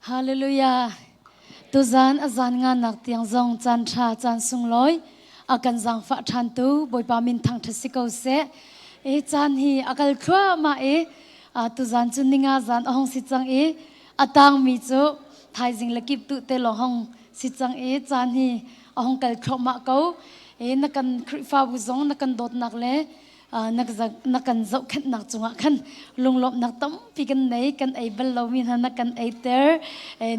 Hallelujah. Tuzan azan nga nak tiang zong caan tha caan sunglawi akan zangfa than tu boipa min thang tha si ko se e caan hi akal thua ma e tuzan chu ninga zan ahong si chang e atang mi chu thaizing lakip tu te lo hong si chang e caan hi a hong kal thluahmah ko e na kan khrihfabu zong na kan dawtnak le na kan zohkhenhnak cungah khan lunglawmhnak tampi kan nei kan ei bal lomi hna na kan eiter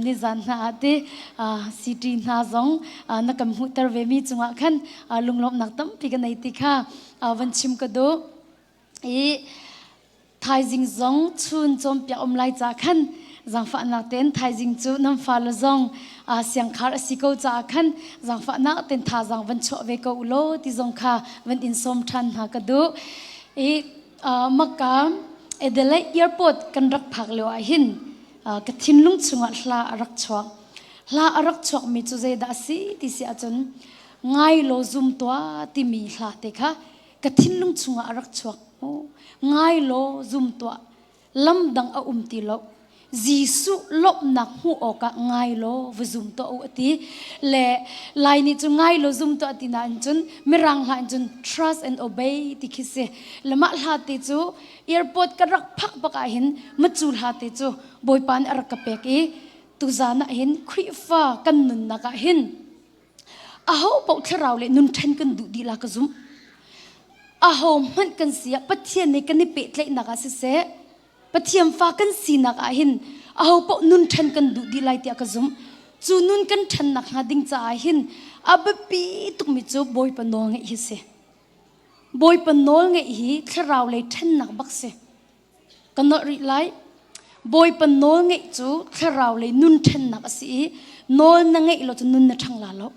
nizan hna ah ti city hna zong na kan hmuhter ve mi cungah khan lunglawmhnak tampi kan ei ti kha van chim ka duh i thaizing zong chun cawmpiak um lai ca khan zangfahnak ten thaizing cu nam fale zong uh, siangkhar asi ko ca khan zangfahnak ten thazang van chuah ve ko lo ti zong kha van in som than hna ka du i uh, maka edele airport kan rak phak leo ah hin uh, ka thinlung chungah hla arak chuak hla arak chuak mi cu zeidah si ti si ahcun ngai lo zum tua timi hla te kha ka thinlung chungah a rak chuak maw ngai law zum tuah lam dang a um ti lo Jesuh lawmhnak hmuh awkah ngai law va zum tuah u ati le lai ni cu ngai law zum tuah ti na in cun mirang hla in cun trust and obey ti khi si le mah hla te cu airport ka rak phak bak ah hin macu hla te cu bawipa nih a rak ka pek i tuzan ah hin Khrihfa kan nunnak ah hin Aho paoh thlarau le nun ṭhen kan duh dihlak ka zumh. Aho hmanh kan si ah Pathian nih kan i pehtlaihnak ah siseh, Pathian fa kan sinak ah hin aho paoh nun ṭhen kan duh dih lai tiah ka zumh. Cu nun kan ṭhennak hnga ding caah hin a biapi tukmi cu Bawipa nawl ngeih hi si. Bawipa nawl ngeih hi thlarau lei ṭhennak bak si. ka nolh rih lai. Bawipa nawl ngeih cu thlarau lei nun ṭhennak a si i nawl na ngeih lo cu nun na ṭhangla lo.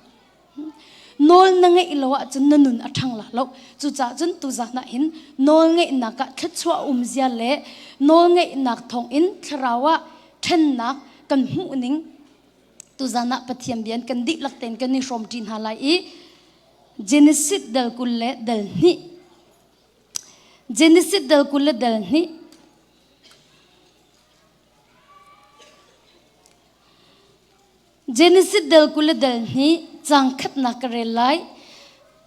Nawl na ngeih lo ahcun na nun a ṭhangla lo. Cucaah cun tuzan ah hin nawl ngeihnak ah thluachuah a um zia le nawl ngeihnak thawngin thlarau ah ṭhennak kan hmuh ning tuzan ah Pathian bia in kan dihlak tein kan i hrawm ṭi hna lai i Genesis dal kul le dal hnih Genesis dal kul le dal hnih. Genesis dal kul le dal hnih cang khatnak ka rel lai.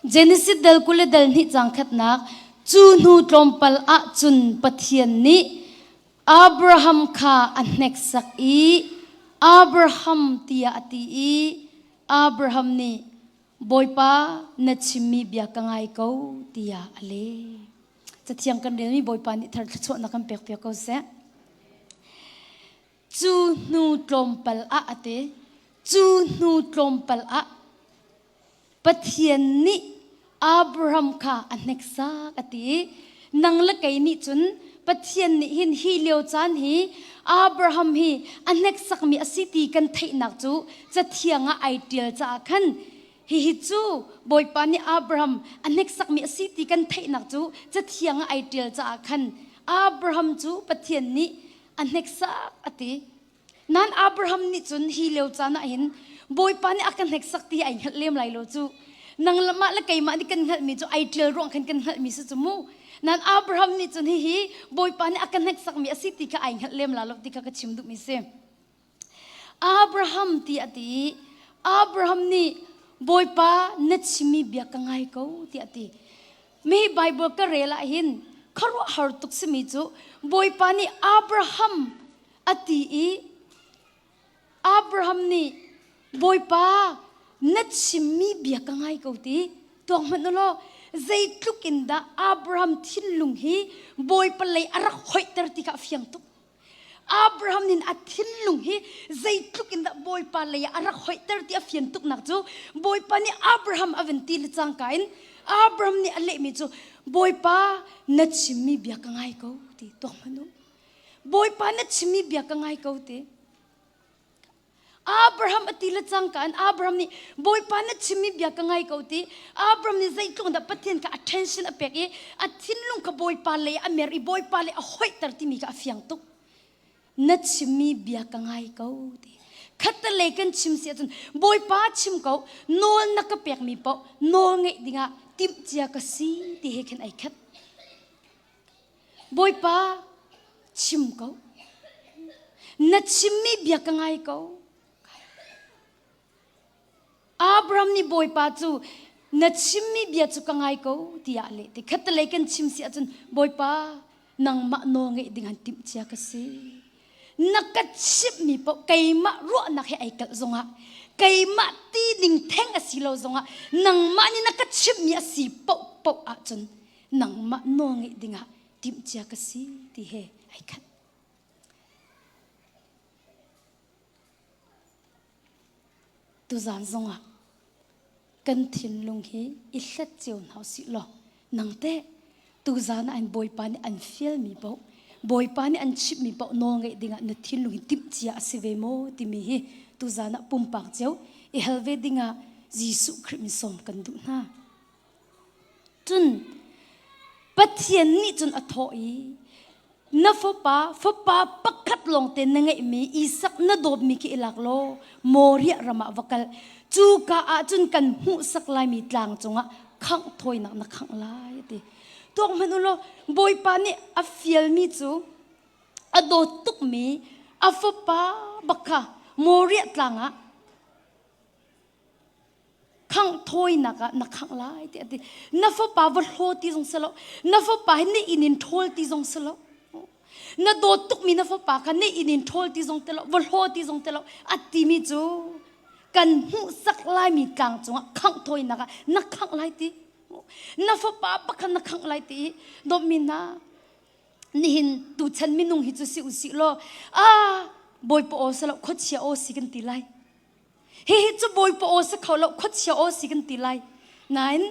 Genesis dal kul le dal hnih cang khatnak cu hnu tlawmpal ah cun Pathian nih Abraham kha a hneksak i Abraham tiah a ti i Abraham nih Bawipa na chimmi bia ka ngai ko tiah a leh. Cathiang kan relmi Bawipa nih thar thluachuahnak kan pek piak ko seh. Cu hnu tlawmpal ah a te. Cu hnu tlawmpal ah Pathian nih Abraham kha a hneksak a ti i nang le kei nih cun Pathian nih hin hi lio caan hi Abraham hi a hneksakmi a si ti kan theihnak cu cathiang ah ai ṭial caah khan hihi cu Bawipa nih Abraham a hneksakmi a si ti kan theihnak cu cathiang ah ai ṭial caah khan Abraham cu Pathian nih a hneksak a ti. Nan Abraham nih cun hi leo caan ah hin Bawipa nih a kan hneksak ti ai hngalh lem lai lo cu. Nang mah le keimah nih kan hngalhmi cu ai ṭial ruang khan kan hngalhmi si cu mu. Nan Abraham nih cun hihi Bawipa nih a ka hneksakmi a si ti kha ai hngalh lem la lo ti kha ka chim duhmi si. Abraham ti a ti i Abraham nih Bawipa na chimmi bia ka ngai ko ti a ti. Mi Baibal ka rel ah hin khuaruahhar tuk simi cu Bawipa nih Abraham a ti i Abraham nih Bawipa na chimmi bia ka ngai ko ti tuak hmanh u law zeitluk in dah Abraham thinlung hi Bawipa lei a rak hoihter ti kha a fiang tuk Abraham nin a thinlung hi zeitluk in dah Bawipa lei a rak hoihter ti a fian tuknak cu Bawipa nih Abraham a vun ti le cangka in Abraham nih a lehmi cu Bawipa na chimmi bia ka ngai ko ti tuak hmanh u Bawipa na chimmi bia ka ngai ko ti. Abraham a ti le cang kan Abraham nih Bawipa na chimmi bia ka ngai ko ti Abraham nih zeitluk dah Pathian ka attention a pek i a thinlung ka Bawipa lei a mer i Bawipa lei a hoihter timi ka a fiang tuk na chimmi bia ka ngai ko ti khatta lei kan chim si ahcun Bawipa chim ko nawl na ka pekmi paoh nawl ngeih dingah timh cia ka si ti he khin ai khat Bawipa chim ko na chimmi bia ka ngai ko Abraham nih bawipa cu na chimmi bia cu ka ngai ko tiah leh te khatalei kan chim si ahcun bawipa nangmah nawl ngeih ding han timh cia ka si na ka chimhmi paoh keimah ruahnak he ai kalh zongah keimah ti ding theng a si lo zongah nangmah nih na ka chimhmi a si paoh paoh ahcun nangmah nawl ngeih dingah timhcia ka si ti he ai khat. Tuzan zongah kan thinlung hi i hlet cio hna si law nang te tuzan ah an bawipa nih an fial mi poh bawipa nih an chimh mi poh nawl ngeih dingah na thinlung hi timhcia a si ve maw timi hi tuzan ah pumpak cio i hal ve dingah Jesuh Khrih min sawm kan duh hna. Cun Pathian nih cun a thawh i, Na fapa, fapa pakhat lawngte na ngeihmi Isak na dawtmi khi i lak law Moriah ram ah va kal. Cuka ah cun kan hmuhsak laimi tlang cungah khangh thawinak na khangh lai, a ti. Tuak hmanh u law Bawipa nih a fialmi cu a dawt tukmi a fapa bak kha Moriah tlang ah khang thawinak ah na khang lai ti ati na fapa va hlo ti zong se lo na fapa hi ne in in thol ti zong se lo na dawt tukmi na fapa kha ne in in thol ti zong te lo va hlo ti zong te lo ati mi cu kan hmuhsak lai mi tlang cungah khang thawinak ah na khang lai ti na fapa pakhan na khang lai ti dawmi na nihin tu chan minung hi cu si usih law a bawi po o se lo khochia o si kan ti lai Hihi cu bawipa aw si kho lo khuachia aw si kan ti lai nain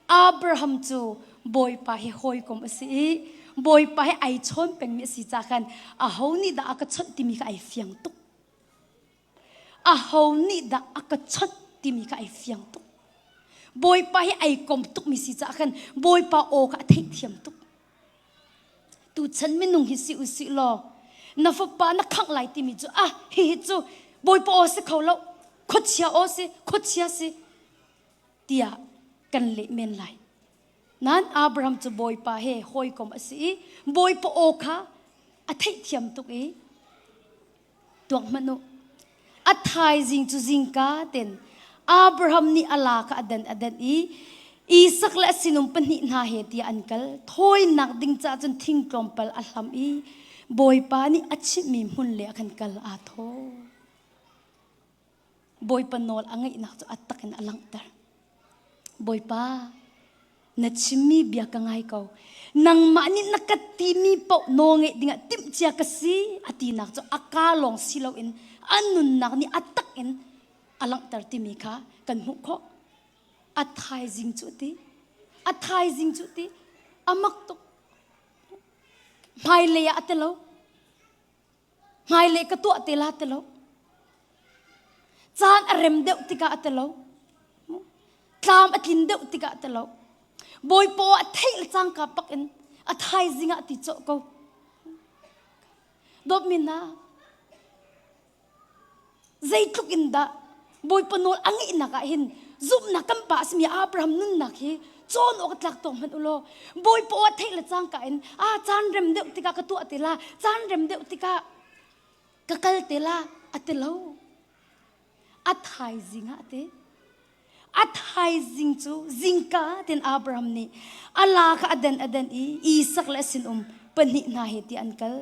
Abraham cu bawipa hi hawikom a si i bawipa he ai chawn pengmi a si ca khan aho nih dah a ka chawnh timi kha ai fiang tuk aho nih dah a ka chawnh timi kha ai fiang tuk bawipa hi ai kom tukmi si caah khan bawipa aw kha a theihthiam tuk Tuchan minung hi si usih law na fapa na khangh lai timi cu ah hihi cu bawipa aw si kho lo khuachia aw si khuachia si tiah kan leh men lai nan Abraham cu bawipa he hawikom a si i bawipa aw kha a theihthiam tuk i tuak hmanh u a thaizing cu zingka ten Abraham nih a la kha adan adan i Isak le sinum pahnih hna he tiah an kal thawinak ding caah cun thing tlawmpal a hlam i Bawipa nih a chimhmi hmun le a kan kal aa thaw Bawipa nawl a ngeihnak cu a tak in a langhter. Bawipa, na chimmi bia ka ngai ko. Nangmah nih na ka timi paoh nawl ngeih dingah timhcia ka si a tinak cu a ka lawng si loin a nunnak nih a tak in a langhter timi kha kan hmuh khawh. A thaizing cu ti, a thaizing cu ti, a mak tuk. Hmailei ah a ti lo. Hmailei ka tuah te la te lo. Caan a rem deuh tikah a te lo. Tlam a tlin deuh tikah a te lo. Bawipa a theih le cangka pak in a thaizing ah ti cawh ko. Dawt mi na zeitluk in dah Bawipa nawl a ngeihnak ah hin zumhnak kan pa a simi Abraham nunnak hi cawn awk a tlak tawng hmanh u law Bawipa aw theih le cangka in a caan rem deuh tikah ka tuah ti la caan rem deuh tikah ka kal ti la a ti lo a thaizing ah te A thaizing cu zingka tin Abraham nih a la kha a den a den i Isak le sinum pahnih hna he ti an kal.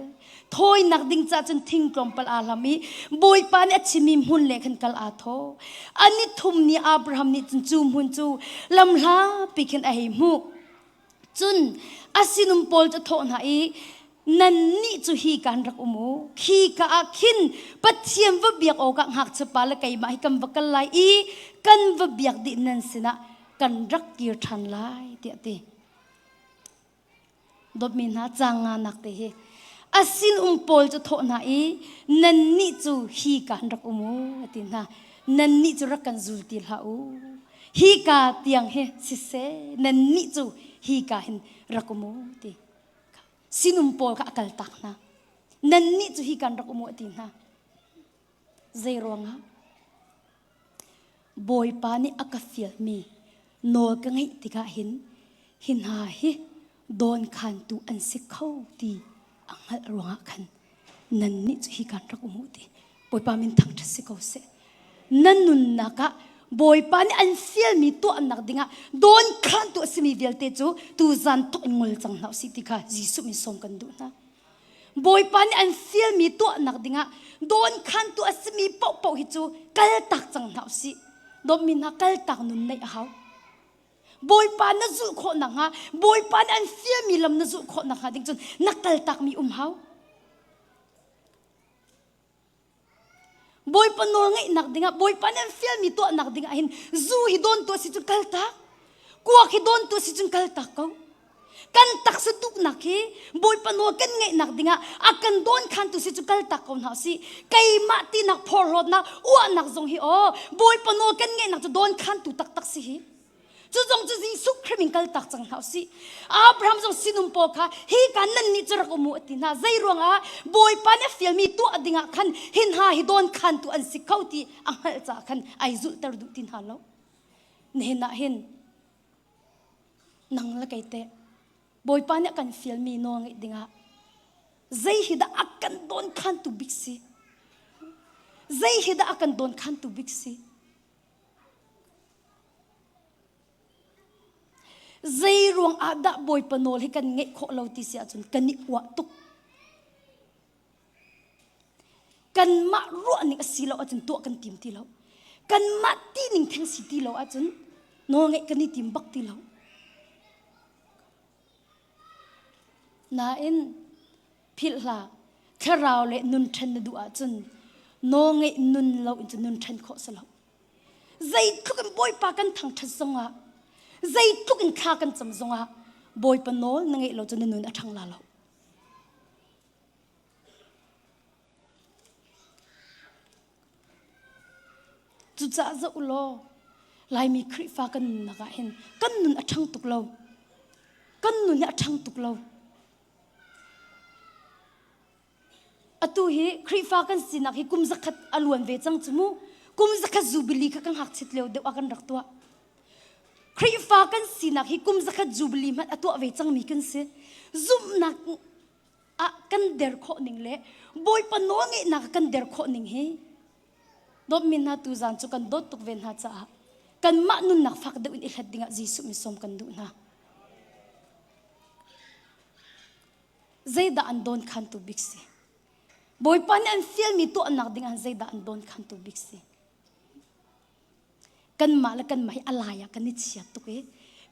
Thawinak ding ca cun thing tlawmpal aa hlam i Bawipa nih a chimmi hmun le khan kal aa thaw. A nithum ni Abraham nih cun cu hmun cu lamhlapi khin a hei hmuh. Cun a sinum pawl cu thawh hna i, Nannih cu hi kaan rak um u. Khi ka ah khin Pathian va biak awkah ngakchiapa le keimah hi kan va kal lai i kan va biak dih nan sinah kan rak kir ṭhan lai, tiah a ti. Dawtmi hna, caang nganak te hi a sinum pawl cu thawh hna i, Nannih cu hi kaan rak um u, a ti hna. Nannih cu rak kan zul ti hlah u. hika tiang hi siseh nannih cu hika hin rak um u ti sinum pawl kha a kal tak hna nannih cu hi kan rak um u ti hna zei ruangah bawipa nih a ka fialmi nawl ka ngeih tikah hin hi hna hi dawnkhantu an si kho ti a hngalh ruangah khan nan nih cu hi kan rak um ti bawipa min thang ṭha si ko seh nan nunnak ah bawipa nih an fialmi tuahnak dingah dawnkhantu a simi vialte cu tuzan tuk in ngol cang hlah usih ti kha Jesuh min sawm kan duh hna bawipa nih an fialmi tuahnak dingah dawnkhantu a simi paohpaoh hi cu kal tak cang hna usih dawtmi hna kal tak nun neih a hau Bawipa na zulh khawh nakhnga Bawipa nih an siami lam na zulh khawh nakhnga ding cun na kaltakmi um hau. Bawipa nawl ngeihnak dingah Bawipa nih an fialmi tuahnak dingah hin zu hi dawn tu a si cun kaltak. Kuak hi dawn tu a si cun kaltak ko. kan taksa tuknak hi bawipa nawl kan ngeihnak dingah a kan dawnkhantu si cu kaltak ko hna usih keimah tinak phorhlawtnak uahnak zong hi aw bawipa nawl kan ngeihnak cu dawnkhantu taktak si hi cu zong cu Jesuh Khrih in kaltak cang hna usih Abraham zong sinum pawl kha hi kan nan nih cu rak um u a ti hna zei ruangah bawipa nih a fialmi tuah dingah khan hin hna hi dawnkhantu an si kho ti a hngalh caah khan ai zulhter duh ti hna lo nihin ah hin nang le kei teh Bawipa nih a kan fialmi nawl ngeih dingah zei hi dah a kan dawn khantu bik si zei hi dah a kan dawn khantu bik si zei ruang ah dah Bawipa nawl hi kan ngeih khawh lo ti si ahcun kan i uah tuk kanmah ruahning a si lo ahcun tuah kan tim ti lo kanmah tining theng si ti lo ahcun nawlngeih kan i tim bak ti lo nain philhhlah thlarau le nun ṭhen na duh ahcun nawlngeih nun lo in cu nun ṭhen khawh si lo zeitluk in bawipa kan thangṭhat zongah zeitluk in thla kan cam zongah bawipa nawl na ngeih lo cu na nun a ṭhang la lo Cucaah zoh law Laimi Khrihfa kan nunnak ah hin kan nun a ṭhang tuk lo. Kan nun hi a ṭhang tuk lo. Atu hi Khrihfa kan sinak hi kum zakhat a luan ve cang cu mu. Kum zakhat zubili kha ka ngakchiat lio deuh ah kan rak tuah. Khrihfa kan sinak hi kum zakhat zubili hmanh a tuah ve cangmi kan si. Zumhnak ah kan der khawh ning le Bawipa nawl ngeihnak kan der khawh ning hi dawtmi hna tu zan cu kan dawt tuk ve hna caah kanmah nunnak fak deuh in i hlat dingah Jesuh mi sawm kan duh hna. Zeidah an dawn khantu bik si? Bawipa nih an fialmi tuahnak dingah zeidah an dawn khantu bik si? kanmah le kanmah hi alai ah kan i chiat tuk i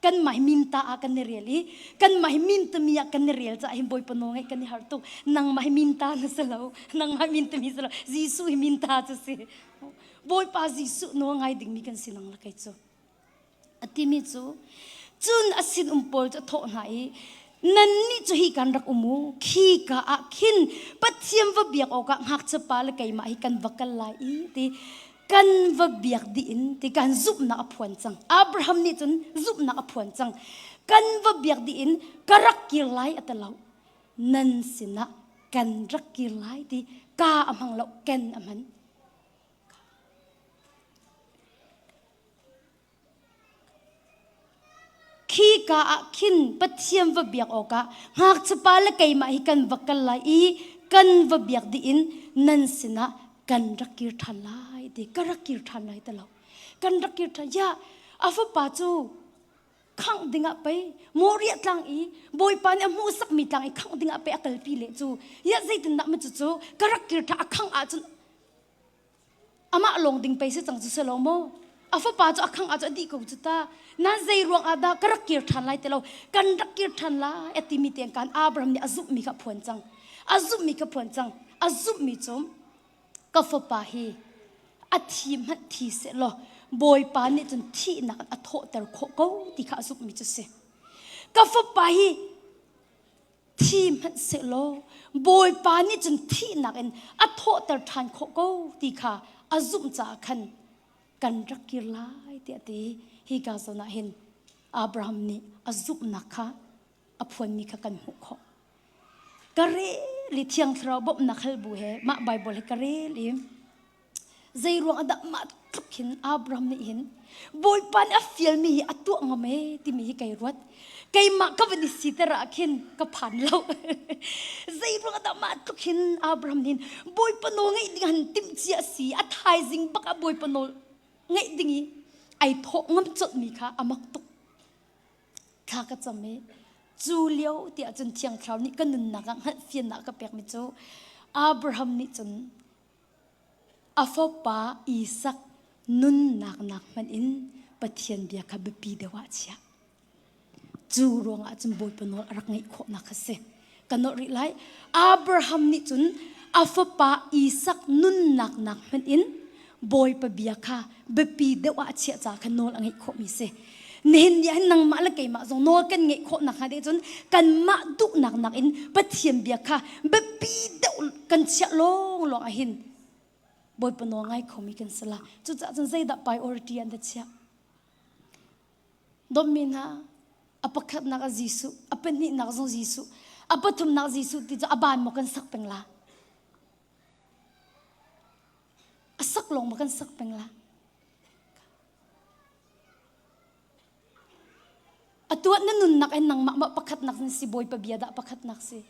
kanmah hi minta ah kan i rial i kanmah hi mintami ah kan i rial caah hin bawipa nawl ngaih kan i harh tuk nangmah hi minta na si lo nangmah hi mintami si lo Jesuh hi minta cu si bawipa Jesuh nawl ngai dingmi kan si nang la kei cu a timi cu cun a sinum pawl cu a thawh hna i nannih cu hi kan rak um u khi ka ah khin pathian va biak awkah ngakchia pa le keimah hi kan va kal lai i ti kan va biak dih in ti kan zumhnak a phuan cang Abraham nih cun zumhnak a phuan cang kan va biak dih in ka rak kir lai a ti lo nan sinah kan rak kir lai ti ka a hmang lo ken a hman Khika ah khin Pathian va biak awkah ngakchapa le keimah hi kan va kal lai i kan va biak dih in nan sinah kan rak kir ṭhan lai ti ka rak kir ṭhan lai ti lo kan rak kir ṭhan ya a fapa cu khangh dingah pei moriah tlang i bawipa nih a hmuhsakmi tlang i khangh dingah pei a kalpi le cu ya zeitindah ma cucu ka rak kir ṭhan a khangh ahcun amah lawng ding pei si cang cu selaw maw a fapa cu a khang ah a dih ko cu ta na zei ruang ah dah ka rak kir ṭhan lai ti lo kan rak kir ṭhan lai a timi tiang kan Abraham nih a zumh mi kha a phuan cang a zumh mi kha phuan cang a zumh mi cum ka fapa hi a thi hmanh thi se law bawipa nih cun thihnak a thawhter khawh ko ti kha a zumh mi cu si ka fapa hi thi hmanhsehlaw Bawipa nih cun thihnak in a thawhter ṭhan khawh ko ti kha a zumh caah khan kan rak kir lai tiah ti hi ka zawn ah hin Abraham nih a zumhnak kha a phuanmi kha kan hmuh khawh ka re li thiang thlarau bawmhnak hal bu he mah Baibal hi ka rel i Zeiruang ah dah mah tluk hin Abraham nih hin Bawipa nih a fialmi hi a tuah ngam ee timi hi kai ruat. Keimah ka van i siter ah khin ka phan lo. Zeiruang ah dah mah tluk hin Abraham nih hin Bawipa nawl ngeih ding han timhci a si. A thaizing bak ah Bawipa nawl ngeih ding i ai thawh ngam colhmi kha a mak tuk. Thla ka cam i cu lio tiah cun Thiang Thlarau nih ka nunnak ah hngalhfiannak a ka pekmi cu Abraham nih cun A fapa Isak nunnak nak hmanh in Pathian bia kha biapi deuh ah a chiah. Cu ruangah cun Bawipa nawl a rak ngeih khawhnak kha si. Ka nawh rih lai. Abraham nih cun a fapa Isak nunnak nak hmanh in Bawipa bia kha biapi deuh ah chiah ca kha nawl a ngeih khawhmi si nihin ni ah nangmah le keimah zong nawl kan ngeih khawh nakhnga deh cun kanmah duhnak nakin Pathian bia kha biapi deuh kan chiah lawng lawng ah hin Bawipa nawl ngai khomi kan si la cucaah cun zeidah priority an da chiah dommi hna a pakhatnak a Jesuh a pahnihnak zong Jesuh a pathumnak Jesuh ti cu a ban maw kan sak peng la A sak lawng ma kan sak peng la. Atuat na nunnak in nangmah ma pakhatnak na si bawi pabia dah pakhatnak si.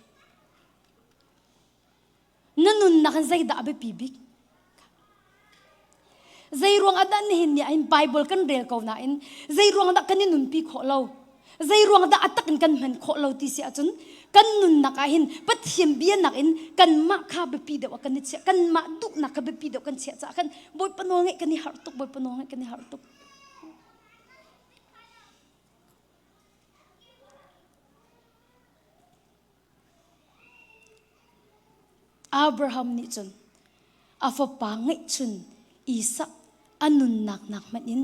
Na nunnak in zeidah a biapi bik? Zei ruang ah dah nihin ni ahin Bible kan rel ko nain zei ruang dah kan i nunpi khawh lo? Zeiruang dah a tak in kan hman khawh lo ti si ahcun kan nunnak ah hin Pathian bianak in kanmah kha biapi deuh ah kan i chiah kanmah duhnak kha biapi deuh kan chiah caah khan Bawipa nawl ngeih kan i harh tuk Bawipa nawl ngeih kan i harh tuk Abraham nih cun a fapa ngeihchun Isak a nunnak nak hmanh in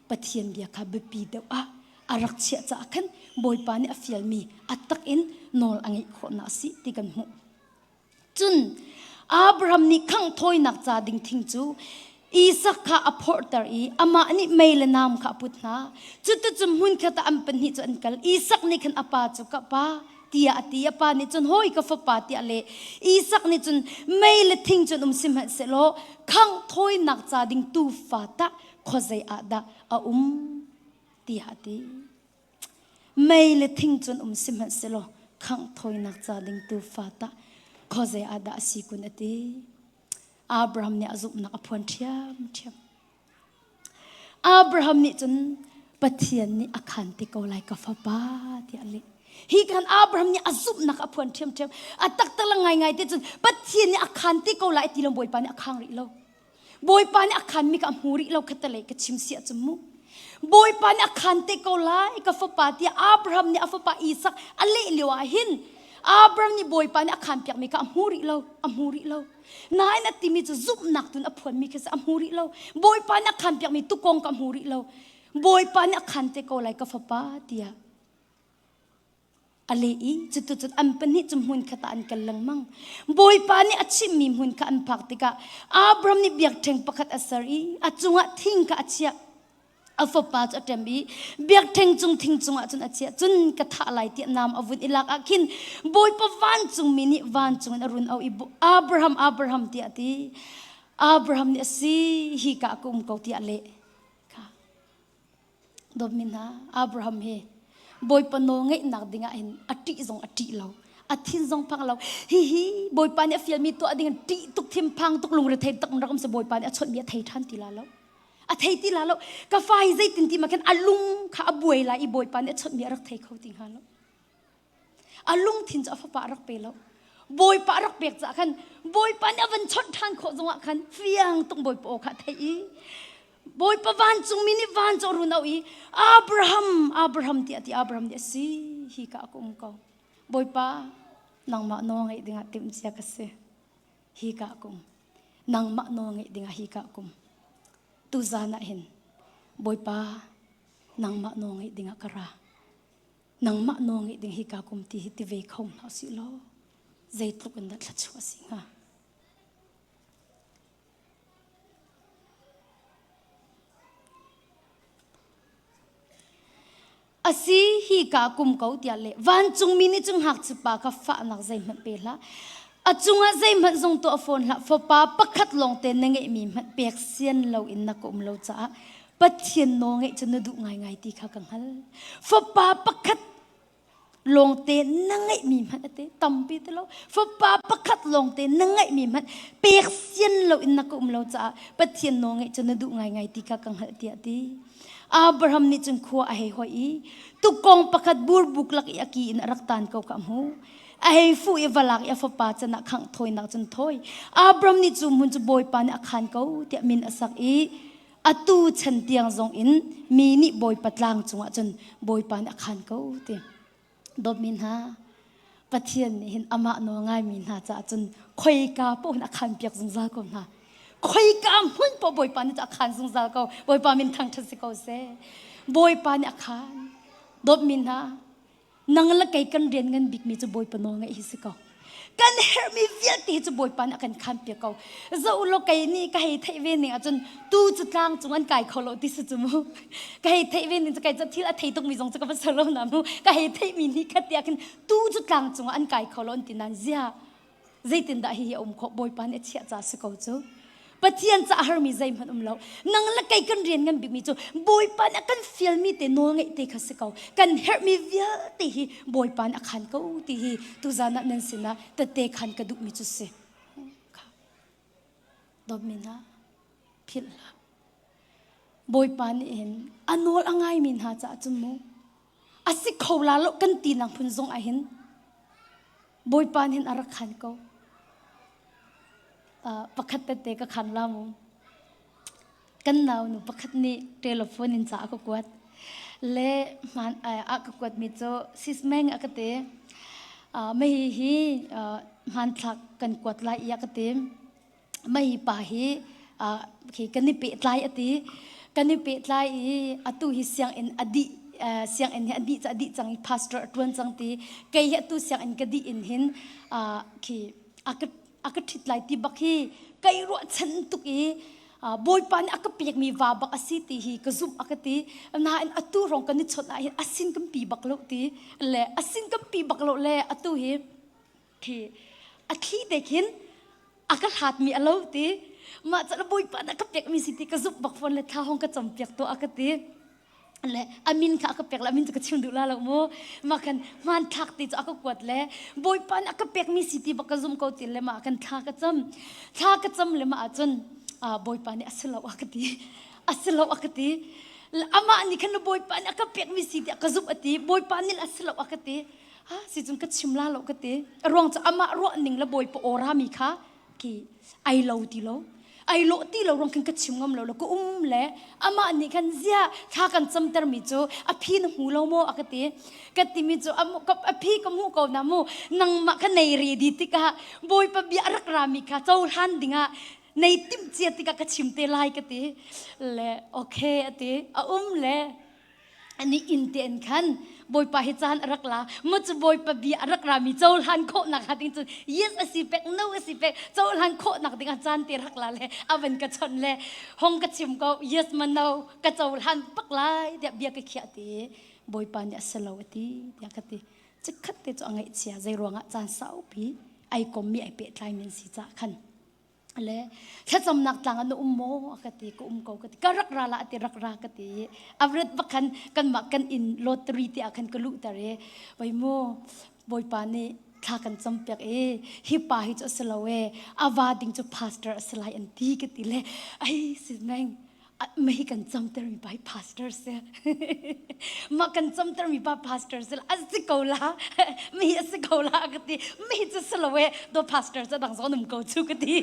Pathian bia kha biapi deuh ah a rak chiah caah khan Bawipa nih a fialmi a tak in nawl a ngeih khawhnak a si ti kan hmuh. Cun Abraham nih khangh thawinak ca ding thing cu Isak kha a phorhter i amah nih mei le nam kha a put hna. Cuticun hmunkhat ah an pahnih cu an kal. Isak nih khan a pa cu ka pa tiah a ti. A pa nih cun hawi ka fapa tiah a leh. Isak nih cun mei le thing cu an um sihmanhsehlaw khangh thawinak ca ding tuufa tah khuazei ah dah a um tiah a ti. Mei le thing cu an um sihmanhsehlaw khangh thawinak ca ding tuufa tah khuazei ah dah a si kun a ti. Abraham nih a zumhnak a phuan ṭhiamṭhiam. Abraham nih cun Pathian nih a khan te ko lai ka fapa tiah a leh. Hi khan Abraham nih a zumhnak a phuan ṭhiamṭhiam. A taktak ngaingai te cun Pathian nih a khan te ko lai ti lo Bawipa nih a khang rih lo. Bawipa nih a khanmi ka hmu rih lo kha te lei ka chim siah cun mu. Bawipa nih a khan te ko lai ka fapa tiah Abraham nih a fapa Isak a leh lio ah hin Abraham nih Bawipa nih a khan piakmi kha a hmu rih lo, a hmu rih lo. Nain a timi cu zumhnak tun a phuanmi khi a hmu rih lo. Bawipa nih a khan piakmi tukong ka hmu rih lo. Bawipa nih a khan te ko lai ka fapa tiah a leh i cutu cun an pahnih cu hmun khat ah an kal lengmang. Bawipa nih a chimhmi hmun kha an phak tikah Abram nih biakṭheng pakhat a ser i a cungah thing kha a chiah. a fapa cu a ṭem i biakṭheng cung thing cungah cun a chiah cun ka thah lai tiah nam a vun i lak ah khin bawipa vancungmi nih vancung in a run auh i Abraham Abraham tiah a ti Abraham nih a si hi ka ka um ko tiah a leh ka dawtmi hna Abraham he bawipa nawlngeihnak dingah hin a ṭih zong a ṭih lo a thin zong phang lo hihi bawipa nih a fialmi tuah ding in ṭih tuk thimpang tuk lungrethei tak in rakam se bawipa nih a chawnhmi a thei ṭhan ti la lo a thei ti la lo ka fa hi zeitin ti ma khan a lung kha a buai la i bawipa nih a chawtmi a rak thei kho ti hnga lo a lungthin cu a fapa a rak pe lo bawipa a rak pek ca khan bawipa nih a van chawt ṭhan khawh zongah khan fiang tung bawipa aw kha a theih i bawipa vancungmi nih van cu a run auh i Abraham Abraham tiah ti Abraham nih a si hi ka ka um ko bawipa nangmah nawl ngaih dingah timh cia ka si hi ka kum nangmah nawl ngeih dingah hi ka kum tu zan ah hin bawipa nangmah nawl ngeih dingah ka ra nangmah nawl ngeih ding hi ka kum ti hi ti ve kho hna si lo zeitluk in dah thla a si hnga asi hi ka kum ko tiah le vancung mi nih cun ngakchia pa kha fahnak zeihmanh pe hlah a cungah zeihmanh zong tuah fawn hlah fapa pakhat lawng te na ngeihmi hmanh pek sian lo in na ka um lo caah Pathian nawl ngeih cu na duh ngaingai ti kha ka hngal fapa pakhat lawngte na ngeihmi hmanh ate tampi te lo fapa pakhat lawngte na ngeihmi hmanh pek sian lo in na ka um lo caah Pathian nawl ngeih cu na duh ngaingai ti kha ka hngalh tiah ti Abraham nih cun khua a hei hoi i tukkong pakhat burbuk lak i a ki in a rak tan ko ka hmu a hei fu i valak i a fapa can ah khangh thawinak cun thawi Abram nih cu hmun cu bawipa nih a khan ko tiah min a sak i atu chan tiang zong in mi nih bawipa tlang cungah cun bawipa nih a khan ko ti dawtmi hna Pathian nih hin amah nawl ngaimi hna caah cun khoika poh hin a khan piak zungzal ko hna khoika hmun poh Bawipa nih cun a khan zungzal ko Bawipa min thangṭhat si ko seh Bawipa nih a khan dawtmi hna nang le kei kan rian ngan bikmi cu Bawipa nawl ngaih hi si ko kan herhmi vialte cu bawipa nih a kan khanpiak ko zo lo kei nih ka hei theih ve ning ahcun tu cu tlang cung an kai kho lo ti si cu mu ka hei theih ve ning cu kai thil a thei tukmi zong cu ka va ser lo na mu ka hei theihmi nih ka tiah khin tu cu tlang cung an kai kho lo an ti nan zia zeitindah hihi a um khawh bawipa nih a chiah ca si ko cu Pathian ca har mi zeihmanh um lo nang le kei kan rian ngan bikmi cu Bawipa nih a kan fial mi te nawl ngeih te kha si ko kan herh mi vialte hi Bawipa nih a khan ko ti hi tuzan ah nan sinah tete khan ka duh mi cu si domina philh hlah Bawipa nih hin a nawl a ngai mi hna caah cu mu a si kho la lo kan tinak phun zong ah hin bawipa nin a rak khan ko uh, pakhat tete ka khan la mu kan nau nu pakhat nih telephone in ca ka kuat le man a ka kuat mi cho sismeng a ka te mei hi hmanthlak kan kuat lai ia ka te mei pa hi khi kan i pehtlai a ti kan i pehtlai i atu hi sianginn a dih sianginn hi a dih a dih cang i pastor a ṭuan cang ti kei hi atu sianginn ka dih in hin khi a ka a ka ṭhit lai ti bak hi kei ruahchan tuk i bawipa nih a ka pekmi va bak a si ti hi ka zumh a ka ti nain atu rong kan i chawnh ahhin a sin kan pi bak lo ti le a sin kan pi bak lo le atu hi khi a thli te khin a ka hlat mi a lo ti mah cala bawipa na ka pek mi si ti ka zumh bak phone le thla hong ka chom piak to a ka ti le amin kha ka pek la amin chu ka chim duh la lo mu ma kan man thak ti chu aka kuat le boipa na ka pek mi si ti bak ka zum ko tin le ma kan thla ka cham thla ka cham le ma chun boipa ni asilo akati asilo akati ama ni khan boipa na ka pek mi si ti ka zup ati boipa ni asilo akati ha sicun ka chim la lo ka ti a ruang cu amah ruah ning le bawipa ora mi kha ki ai lo ti lo ai lo ti lo rong khin ka chim ngam lo lo ka um le amah nih khan zia thla kan camter mi cu a phi na hmu lo maw a ka ti ka ti mi cu a phi ka hmu ko na mu nangmah ka nei ri di tikah bawipa bia rak ra mi kha cohlan dingah nei tim cia tikah ka chim te lai ka ti le okay a ti a um le ani inn tein khan bawipa hi caan a rak la mu cu bawipa bia a rak rami cohlan khawhnak hnga ding cun yes a si pek no a si pek cohlan khawhnak dingah caan te rak la le avan ka chon le hong ka chim ko yes ma no ka cohlan pak lai tiah bia ka khiah ti bawipa nih a selo a ti tiah ka ti cikhat te cu a ngaih chia zei ruangah caan saupi ai kom mi ai pehtlai nan si ca khan le thlacamnak tlang na um maw ka ti ka um ko ka ti ka rak ra la ti rak ra ka ti avret bakhan kanmah kan in lottery ti akhan ka lu tare bai mu boipa nih thla kan cam pek e hi pa hi chu asilo e ava ding chu pastor asalai an ti ka ti le ai si meng mei kan camtermi pai pastor si mah kan camtermi pa pastor si a si ko la mi a si ko la ka ti mi cu si lo e do pastor cu dang zon um ko chu ka ti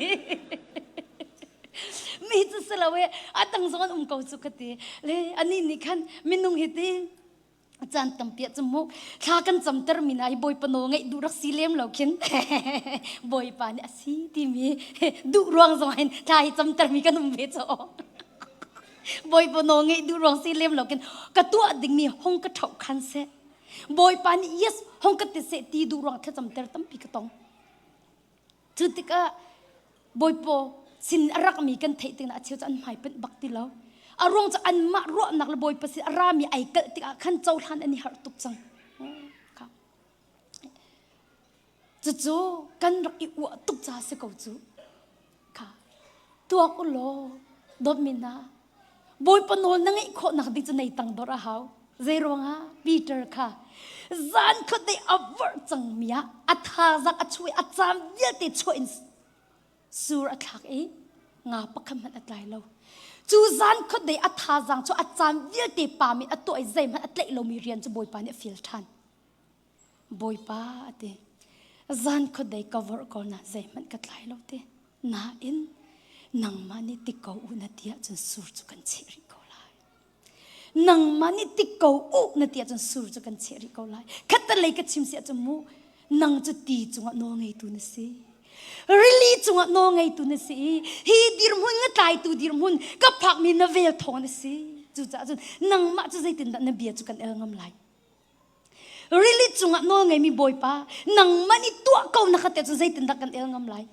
mi cu si lo e a dang zon um ko chu ka ti le ani ni khan minung hi ti chan tampia chu mu thla kan cham ter min ai boi pano ngai du rak si lem lo khin boi pa ni asi ti mi du ruang zong hin thla hi cham ter mi kan um ve cho boi pano ngai du ruang si lem lo kin ka tu ding mi hong ka thau khan se boi pa ni yes hong ka te se ti du ruang thla cham ter tampi ka tong Cu tikah bawipaw sin a rakmi kan theih tikna a cheu cu an hmaipunh bak ti lo. A ruang cu anmah ruahnak le bawipa sin a rami ai kalh tikah khan cohlan an i harh tuk cang. Cucu kan rak i uah tuk ca si ko cu. Kha tuak u law dawtmi hna Bawipa nawl na ngeih khawh nak ding cu nei tangdor a hau. Zei ruangah? Peter kha zan khat dei a vorh cangmi ah a thazang a chuih a caan vialte chuah in sur a thlak i nga pakhat hmanh a tlai lo. Cu zan khat dei a thazang cu a caan vialte pam in a tuah i zeihmanh a tlaih lomi rian cu Bawipa nih a feel ṭhan. Bawipa a ti. Zan khuat dei ka vorh ko na zeihmanh ka tlai lo ti. Nain nangmah nih ti ko u na ti ahcun sur cu kan cheh rih ko lai. Nangmah nih ti ko u na ti ahcun sur cu kan cheh rih ko lai. Khattelei ka chim si ahcun mu nang cu ti cungah nawlngeitu na si. Rili cungah nawlngeitu na si i hi dirhmun ngatlaitu dirhmun ka phakmi na vel thawng na si. Cucaah cun nangmah cu zeitindah na bia cu kan el ngam lai? Rili cungah nawl ngeimi Bawipa, nangmah nih tuah ko na ka tel cun zeitindah kan el ngam lai?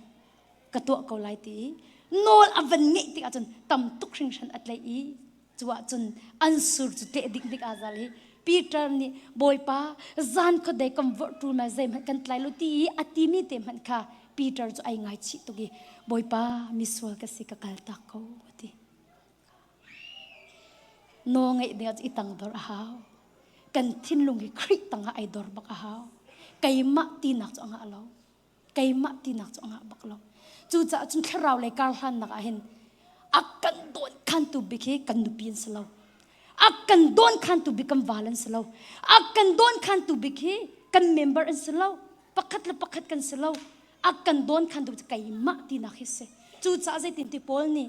Ka tuah ko lai ti i nawl a van ngeih tikah cun tam tuk hringhran a tleih i cu ah cun an sur cu tleh dikdik aa zal i Peter nih Bawipa zan khuadei kan vorh ṭul ma zeihmanh kan tlai lo ti i a timi te hmanh kha Peter cu ai ngaichih tuk i Bawipa misual ka si ka kal tak ko a ti. Naw ngeih ding ah i tangdor a hau. Kan thinlung hi Khrih tangah ai dor bak a hau. Keimah tinak cu a ngah lo. Keimah tinak cu a ngah bak lo. Cucaah cun thlarau lei karhlannak ah hin a kan dawn khantu bik hi kan nupi an si lo. A kan dawn khantu bik kan val an si lo. A kan dawn khantu bik hi kan member an si lo. Pakhat le pakhat kan si lo. A kan dawn khantu bik cu keimah tinak hi si. Cucaah zeitin ti Paul nih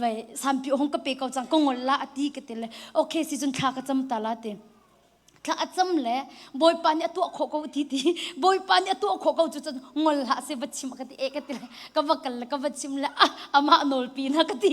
vai sampi hong ka pe ko cang ko ngol la ati ka tile okay si chun thla ka cham ta la te thla acham le bawipa nih atuah kho ko ti ti bawipa nih atuah kho ko chu chun ngol ha se va chim ka ti e ka tile ka va kal ka va chim le ah ama nol pi na ka ti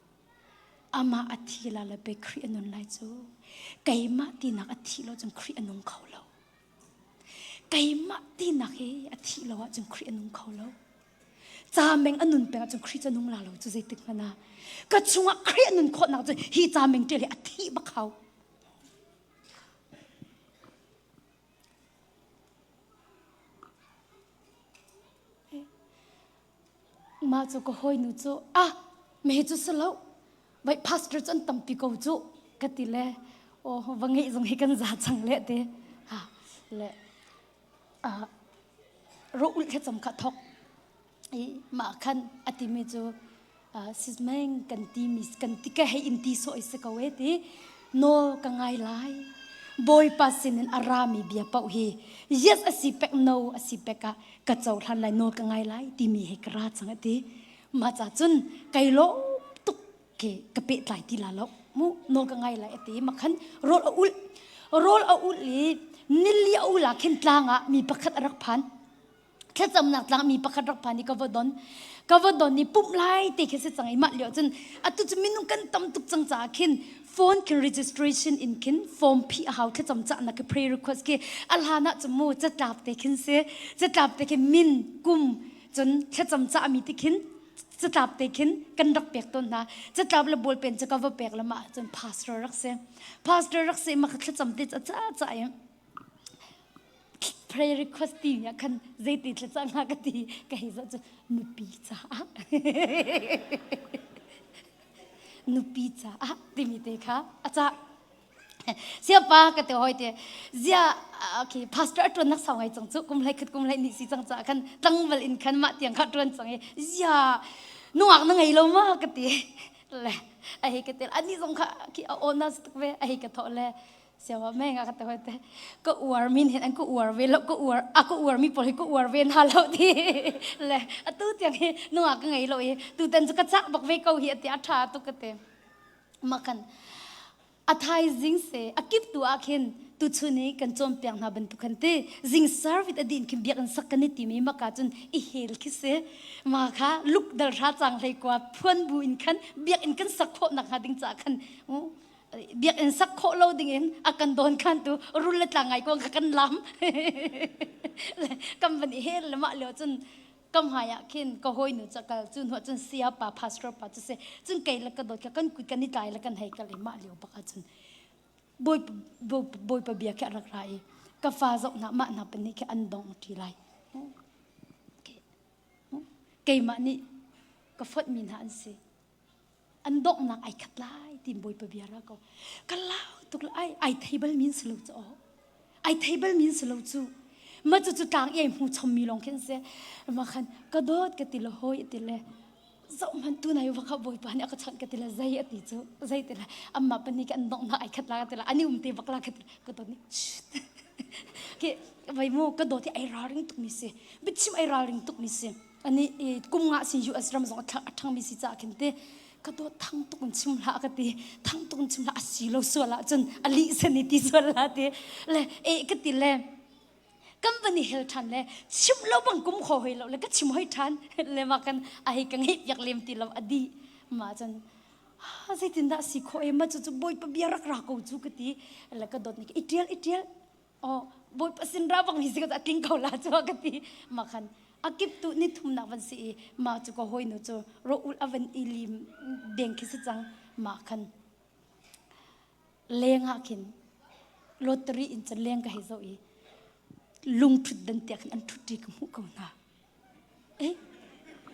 Amah a thi la le be Khrih a nun lai cu keimah tinak a thi lo cun Khrih a nung kho lo. Keimah tinak hi a thi lo ahcun Khrih a nung kho lo. Ca meng a nun peng ahcun Khrih cu nung la lo cu zeitik hmanh ah. Ka chungah Khrih a nun khawh nak cu hi ca meng ṭial hi a thi bak hau. Mah cu ka hawinu cu ah mehe cu si lo vaih pastor cu an tampi ko cu ka ti le aw va ngeih zong hi kan za cang le te ha le ah ro ulh thlacam kha thawk i mah khan a timi cu sizmeng kan ti mi kan ti ka hei in ti soi se ko e ti no ka ngai lai bawipa sinin a rami bia pau hi yes asi pek no asi pek a ka cho thlan lai no ka ngai lai ti mi he ka ra chang ati ma cha chun kai lo tuk ke ka pe tlai ti la lo mu no ka ngai lai ati ma khan rol a ul rol a ul i nilli a ula khin tlanga mi pakhat a rak phan thlacamnak tlangmi pakhat rak pa nih ka va don ka va don i pumh lai te khi si cang i mah lio cun atu cu minung kan tam tuk cang caah khin phone ke registration in khin form phi a hau thlacam cah na ke prayer request ke a hlan ah cu mu catlap te khin se catlap te khin min kum cun thlacam cah mi te khin catlap te khin kan rak pek ton hna catlap le bol pen ca ka va pek lama cun pastor rak se pastor rak se ma ka thlacam te ca ca ca prayer request ti nih khan zeiti thlaca nga ka ti ka hei zoh cu nupi caah nupi caah timi te kha aca siapa ka te hoi te zia okay pastor tuan nak sau ngai chang chu kum lai khat kum lai ni si chang cha khan tlangwal in khan ma tiang kha tuan chang e zia nuak na ngei lo ma ka ti le a hei ka tel ani zong kha ki a on na tuk ve a hei ka tho le Siawa meng a kata hote ka uar min hen an ku uar ve lo ku uar a ku uar mi pol hi ku uar ve na lo ti le atu tiang hi nunga ka ngei lo i tu tan chu ka cha bak ve ko hi ati a tha tu ka te makan a thaizing se a kip tu a khin tu chuni kan chom piang na ban tu khan ti jing service adin khin biak an sak kan ti mi maka chun i hel khi se ma kha luk dal ra chang hlei kwa phuan bu in khan biak in kan sak kho nak ha ding cha khan biakinn sak khawh lo dingin a kan dawn khantu rul le tlang ngai ko kan lam kan van i hel le mah leo cun kam hai ah khin ka hoi nu cakal cu nu cun sia pa pastor pa cu se cun kai la ka dot ka kan kui kan i tlai la kan hei kal i mah leo baka cun boi boi pa bia ke rak ra i ka fa zok na mah na pani ke an dong ti lai keimah nih ka phot mi na an si an donghnak ai khat lai tin bawipa bia ra ko ka lau tuk ai ai table means lo chu ai table means lo chu ma chu chu tlang ei mu chom mi long khin se ma khan ka dot ka tilo hoi tile zo man tu nai wa kha bawipa ne ka chon ka tila zai ati chu zai tila amma pani kan dong na ai khat la tila ani um te bakla khat ka to ni ke vai mu ka do ti ai ra ring tuk ni se bichim ai ra ring tuk ni se ani kum nga si US ram zong a thangmi si ca khin te ka do thang tukun chim la ka ti thang tukun chim la asi lo so la chun ali sani ti so la ti le e ka ti le company hel than le chim lo bang kum kho hoi lo le ka chim hoi than le ma kan ai kan he yak lem ti lo adi ma chun ha zeitin da si kho e ma chu chu boy pa bia rak ra ko chu ka ti le ka dot ni itial itial oh bawipa sinra bang mi sikhat atling ko la chu ka ti ma khan akip tu ni thum nak van si i ma chu ko hoi nu chu ro ul avan ilim deng khi si chang ma khan leng ha khin lottery in chan leng ka he zo i lung thut dan tia khan an thut ri ka mu ko na Eh,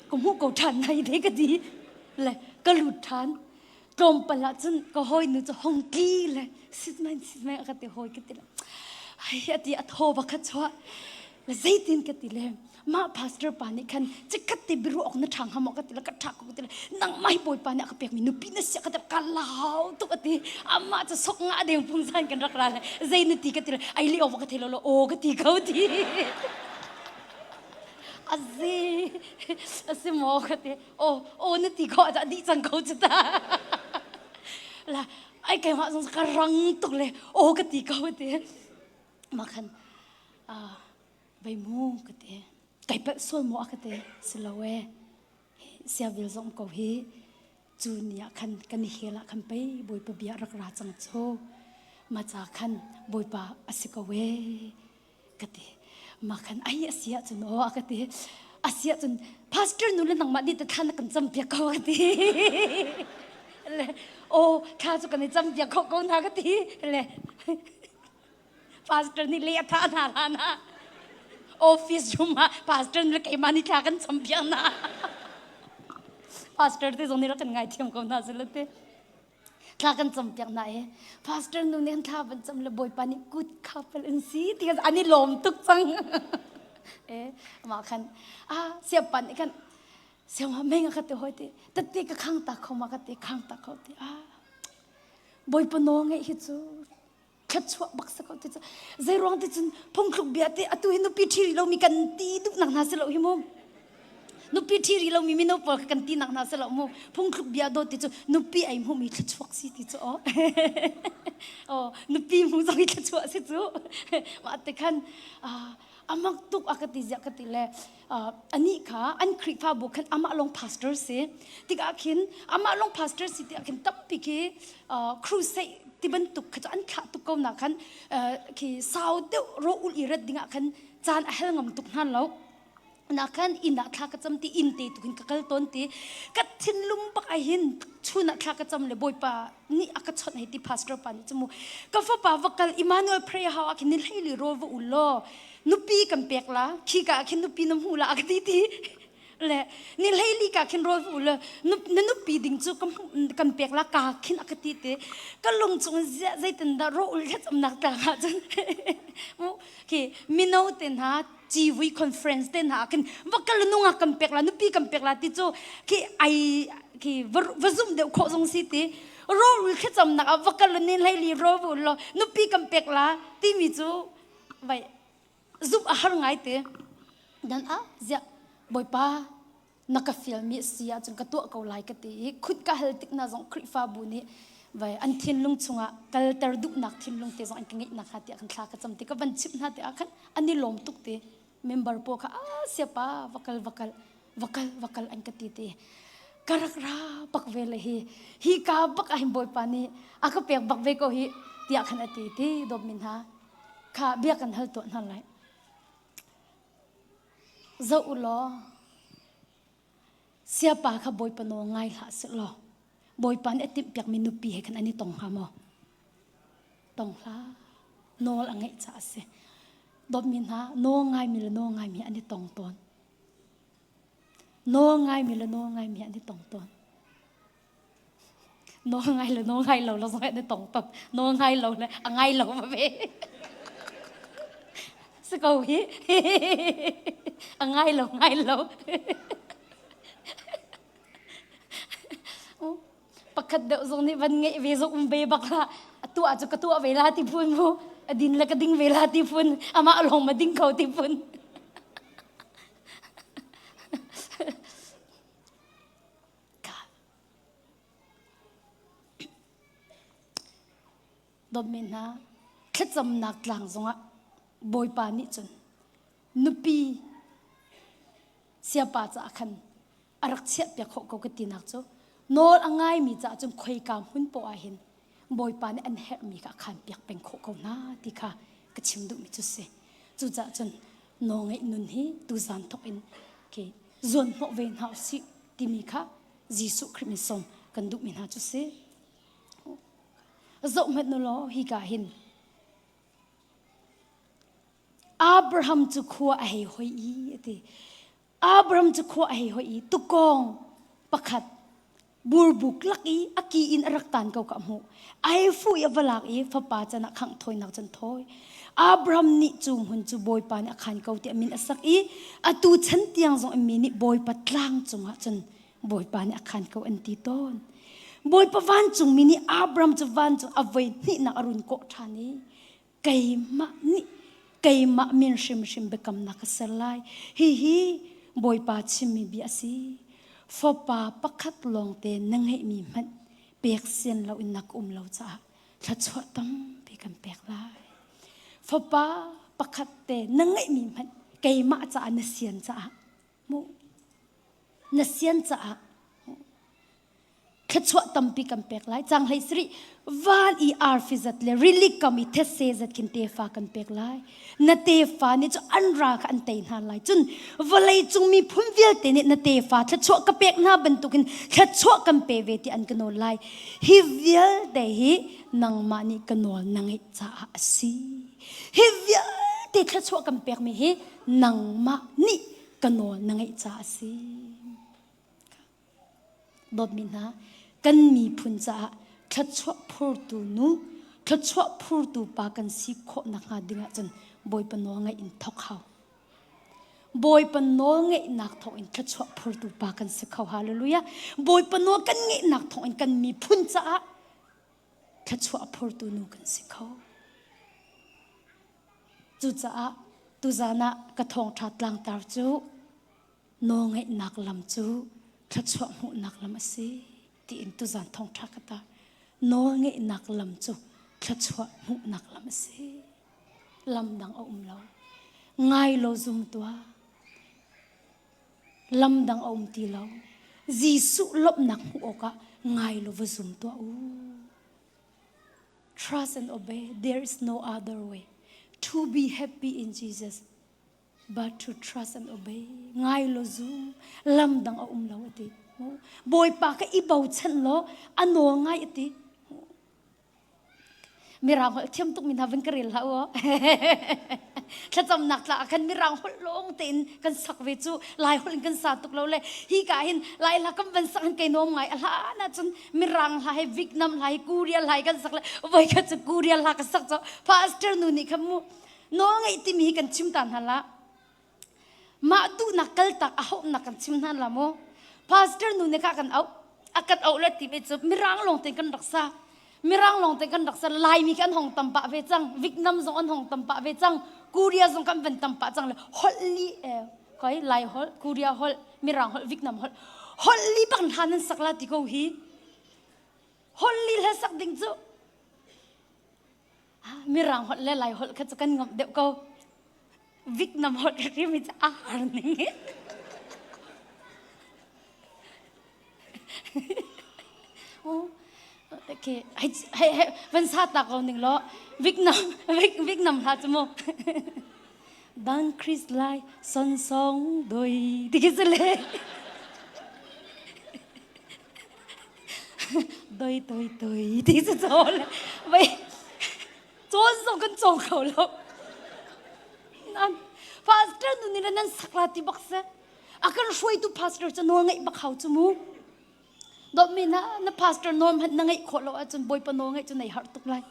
ka hmuh ko ṭhan nai de ka ti. Le ka lut ṭhan. Tlawmpal ah cun ka hawi nu cu hong tli le sit main sit main ka ti hawi ka ti le. Ai a ti a thaw bakhat chuah. Le zeitin ka ti le mah pastor pa nih khan cikhat te biru ok na ṭhang hamo ka ti le ka ṭhak ko ka ti le nang mai bawi pa nih a ka pek mi nupi na sia ka ti le ka lau tuk a ti amma cu sok nga adeng pung san kan rak ra le zei na ti ka ti le ai li ova ka thi lo lo aw ka ti ko ti a zi a si maw ka ti aw aw na ti ko a dih cang ko cu ta la ai keimah zong ka rang tuk le aw ka ti ko ti ma khan a bei mu ka ti kai pet sual mo a ka ti si lo e sia vil zong ko hi cu ni ah khan kan i hela khan pei bawipa bia rak ra cang chu ma cha khan bawipa a si ko e ka ti ma khan ai asia cun o a ka ti asia cun pastor nu le nangmah nih ta thana kan cham piak ko ka ti le o kha chu kan i cham piak ko ko na ka ti le pastor nih le atha na la na office room ah pastor le keima ni thla kan cham piak na pastor te zong nih ra kan ngai thiam ko na zilate thla kan cam piak hna i pastor nu nih thla van cam le bawipa nih kut khapal in si ti khan an i lawm tuk cang eh amah khan a siapan nih khan siangwa meng ka te hoi ti tette ka khang ta kho ma ka te khang ta kho ti a bawipa no nge hi cu thluachuah bak sa ko te cu zei ruang ti cun phungthluk bia te atu hi nupi ṭhi rih lomi kan ti duhnak hna si lo hi mu nupi ṭhi rih lomi mino pawl kan ti nak hna si lo mu phungthluk bia dawt ti cu nupi ai mu mi thluachuak si ti cu o o nupi mu zong i thluachuah si cu wa te khan amang tuk a ka ti zia ka ti le ani kha an Khrihfabu khan amah long pastor si tikah khin amah long pastor si tiah khin tampi khi crusade ti bantuk kha an thlah tuk ko na khan khi sau deuh ro ul i rat dingah khan caan a hel ngam tuk hnan lo na khan in ah thla ka cham ti in te tukin ka kal ton ti ka thinlung bak a hin chun ah thla ka cham le boipa ni a ka chon hei ti pastor pa ni chumu ka fa pa va kal Emmanuel prayer house a khin ni hlei li ro va ul lo nupi kan pek la khika ah khin nupi na hmu la ka ti ti le ni hleili ka khin rawl mu le na nupi ding cu kan pek la ka khin aka ti ti ka lung chung zeitin dah ro ul thet am nak tlang ha cun ki mino te na civui conference te na khin va kal nunga kan pek la nupi kan pek la ti cu ki ai ki va zum deuh kho zong si ti ro ul thet am nak va kal ni hleili ro bu lo nupi kan pek la ti mi cu vai zuk a har ngai te dan ah ziah bawipa na ka fial mi si ahcun ka tuah ko lai ka ti i khut ka hal tik na zong Khrihfabu nih vai an thinlung chungah kalter duhnak thinlung te zong an ka ngeih nakhnga tiah khan thla ka cam ti ka van chimh hna te ah khan an i lawm tuk ti member paw kha a sia pa vakal vakal vakal vakal an ka ti te ka rak ra pak ve le hi hi ka bak a hin bawipa nih a ka pek bak ve ko hi tiah khan a ti ti dom min ha kha bia kan hal to hna lai zo u law Siapa kha Bawipa nawl ngai hlah sih law Bawipa nih a timhpiakmi nupi he khan an i tong hnga maw? Tong hlah. Nawl a ngeih caah a si. Dawtmi hna, nawl ngaimi le nawl ngaimi an i tong tawn. Nawl ngaimi le nawl ngaimi an i tong tawn. nawlngai le nawlngai lo la zongah na tong top nawlngai lo le a ngai lo ma ve si ko hi a ngai lo ngai lo pakhat deuh zong nih van ngeih ve zong um ve bak la atu ah cu ka tuah ve la ti phun mu adin le ka ding ve la ti phun amah long ma ding ko ti phun Dawtmi hna, thlacamnak tlang zongah Bawipa nih cun nupi siapa caah khan a rak chiahpiak khawh ko ka tinak cu nawl a ngaimi caah cun khoika hmun poah ah hin Bawipa nih an herhmi kha a khaan piak peng khawh ko hna ti kha ka chim duhmi cu si. Cucaah cun nawlngaih nun hi tuzan thok in ke zuan hnawh ve hna usih timi kha Jesuh Khrih min sawm kan duhmi hna cu si. Zoh hmet nu law hi ka hin Abraham cu khua a hei hoi i ati Abram cu khua a hei hoih i tukkawng pakhat burbuk lak i a ki in a rak tan ko ka hmuh. A hei fuh i a va lak i fapa can ah khangh thawinak can thawi. Abram nih cu hmun cu Bawipa nih a khan ko tiah min a sak i atu chan tiang zong mi nih Bawipa tlang cungah cun Bawipa nih a khan ko an ti tawn. Bawipa vancungmi nih Abram cu van cu a voi hnihnak a run kawh ṭhan i keimah nih keimah min hrimhrim biakamnak ka ser lai hihi bawipa chimmi bia a si fapa pakhat lawngte na ngeihmi hmanh pek sian lo in nak um lo caah thluachuah tampi kan pek lai fapa pakhat te na ngeihmi hmanh keimah caah na sian caah mu na sian caah thluachuah tampi kan pek lai cang hlei sari van i arfi zat le rili kam i thetse zat kin tefa kan pek lai na tefa ni chu an ra kha an tei hna lai cun vawlei cung mi phun vialte nih na tefa thluachuah ka pek hna bantukin thluachuah kan pe ve ti an ka nawl lai hi vialte hi nangmah nih ka nawl nang i caah a si hi vialte thluachuah kan pekmi hi nangmah nih ka nawl na ngeih caah a si Dawtmi hna, kan miphun caah thluachuah phurtu nu, thluachuah phurtu pa kan si khawh nakhnga dingah cun Bawipa nawl ngaih in thawk hau. Bawipa nawl ngeihnak thawngin thluachuah phurtu pa kan si kho. Hallelujah. Bawipa nawl kan ngeihnak thawngin kan miphun caah thluachuah phurtu nu kan si kho. Cucaah tuzan ah ka thawngṭha tlangtar cu nawlngeihnak lam cu thluachuah hmuhnak lam a si tiin tuzan thongṭha ka tar nawlngeihnak lam cu thluachuah hmuhnak lam a si lam dang a um lo ngai lo zum tuah lam dang a um ti lo Jesuh lawmhnak hmuh awkah ngai lo va zum tuah u trust and obey there is no other way to be happy in Jesus but to trust an obey ngai lo zu lam dang a um lo ati bawipa ka i bochan law a no ngai ati mirang holh thiam tuk mi hna van ka rel hlah u thlacam nak tla khan mirang holh long tein kan sak ve cu lai holh in kan sa tuk lo le hi ka hin lai la kam van sak kai nom ngai a hla na chun mirang hla he vietnam hla he korea hla he kan sak le voi kha chu korea hla ka sak cho pastor nu ni khan mu nawlngeih timi hi kan chim ta hna la mah tuhnak kaltak a hauhnak kan chim hna la maw pastor nu ne kha kan auh a kan auh le ti ve cu mirang lawng te kan raksa mirang lawng te kan raksa laimi kan hong tam pah ve cang vietnam zong an hong tam pah ve cang korea zong kan van tam pah cang le holh li eh, koi lai holh korea holh mirang holh vietnam holh holh li bang hlan nan sakla ti ko hi holh li le sak ding cu mirang holh le lai holh kha cu kan ngam deuh ko Vietnam holh ka ri mi cu a har ning oh okay hai hai van sa ta ko ning lo Vietnam Vietnam hla chu mu dan Chris lai son song doi ti ki se le doi doi doi ti cu cawn vei cawn zong kan cawng kho lo nan pastor nu nih nan sakla ti bak se a kan hruaitu pastor cu nawl ngeih bak hau cu mu dot mi na na pastor norm hat na ngeih khawh lo ahcun bawipa nawl ngeih cu nei har tuk lai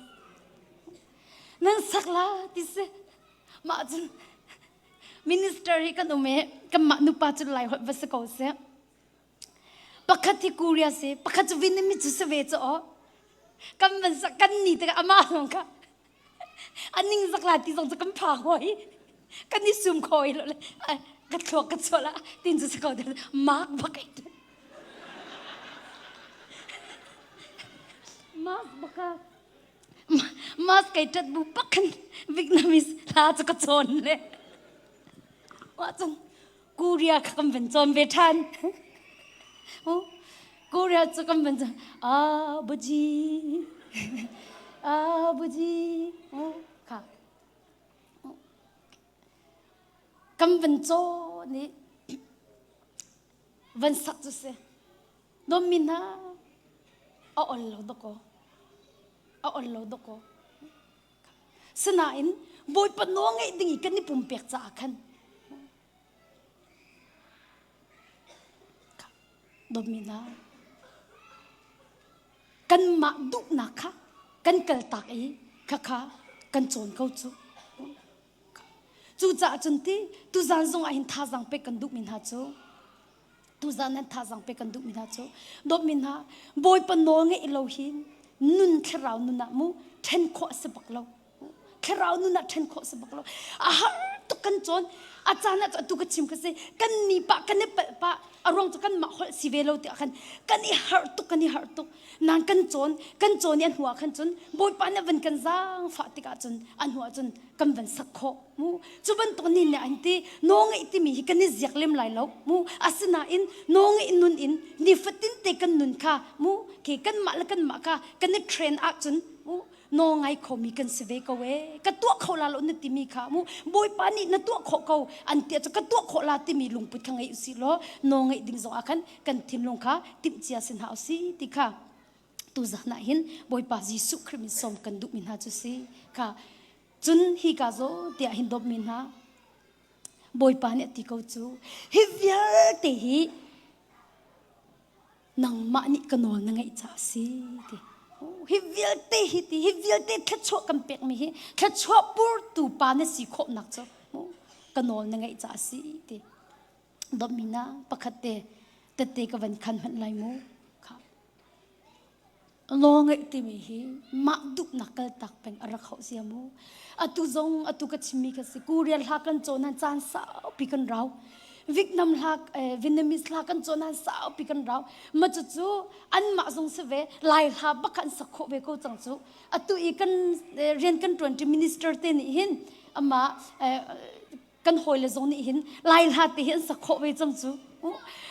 nan sakla ti se mah cun minister hi kan um i kanmah nupa cu lai hoih va si ko seh pakhat hi Korea si pakhat cu Vietnamese cu se ve cu aw kan van sak kan ni te amah zong kha aning zakla ti zong cu kan phang hoi kan i sum khoi lo le ka thluak ka chuah la tin cu sako de mark bakai mark baka mas kai tat bu pakhan vietnamese la chu ka chon le wa chung Korea kha kan van cawn ve ṭhan. Korea cu kan van cawn. Ah buji, ah buji, kha. Kan van cawn i van sak cu si. Nommi hna a ol lo dawkaw. A ol lo dawkaw. Sinain Bawipa nawl ngeih ding i kan i pumpek caah khan dawmi hna kanmah duhnak kha kan kaltak i khakha kan cawn ko cu Cucaah cun ti tuzan zong ah hin thazang pek kan duhmi hna cu tuzan nan thazang pek kan duhmi hna cu dawtmi hna bawipa nawl ngeih lo hi nun thlarau nun ah mu ṭhen khawh a si bak lo thlarau nun ah ṭhen khawh a si bak lo a har tuk kan cawn a caan ah cu atu ka chim ka si kan ni pa kan i palh pah a ruang cu kan mah holh si ve lo tiah khan kan i harh tuk kan i harh tuk nang kan cawn kan cawn i a hnuah khan cun bawipa nih van kan zaangfah tikah cun a hnuah cun kan van sak khawh mu cu bantuk ni nih an ti no ngeih timi hi kan i ziak lem lai lo mu asinain no ngeih nun in nifatin te kan nun kha mu ke kanmah le kanmah ka kan i train ahcun mu nawlngai khomi kan si ve ko e ka tuah kho la lo na timi kha mu bawipa nih na tuah khawh ko an tia ka tuah khawh la timi lungput kha ngei usi law no ngai ding zongah khan kan thinlung kha timh cia sin ha usi ti kha tu zana hin bawipa jesuh khrist min som kan duh mi hna chu si kha cun hi ka zo tia hin dom mi hna bawipa nih ti ko chu hi vialte hi nangmah nih ka nawl na ngaih ca a si ti hi vialte hi ti hi vialte thluachuah kan pekmi hi thluachuah purtu pa na si khawhnak cu ka nawl na ngaih ca a si ti domina pakhat te tette ka van khan hmanh lai mu Law ngeih timi hi mah duhnak kaltak peng a rak hauh sia mu. Atu zong atu ka chimmi ka si. Korea hla kan cawn nan caan saupi kan rau. Vietnam hla eh, Vietnamese hla kan cawn nan saupi kan rau. Ma cu cu anmah zong si ve lai hla bak an sak khawh ve ko cang cu. Atu i kan eh, rian kan tuan ti minister te nih hin ama eh, kan hawile zong nih hin lai hla te hi an sak khawh ve cang cu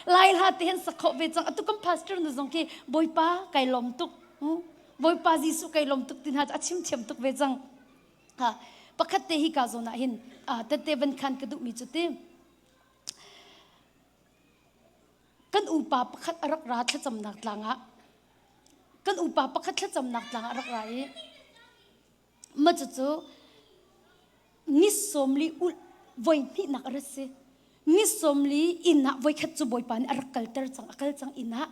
lai hla te hin sak khawh ve cang atu kan pastor na zong khi bawipa kai lom tuk bawipa jesuh kai lom tuk ti hna a chim thiam tuk ve cang ha pakhat te hi ka zon ah hin tette van khan ka duh mi cu ti kan upa pakhat a rak ra thlacamnak tlangah kan upa pakhat thlacamnak tlangah a rak ra i ma cu cu ngis somli ul voi hnih nak a rat si ngis somli inn ah voi khat cu bawipa nih a rak kalter cang a kal cang inn ah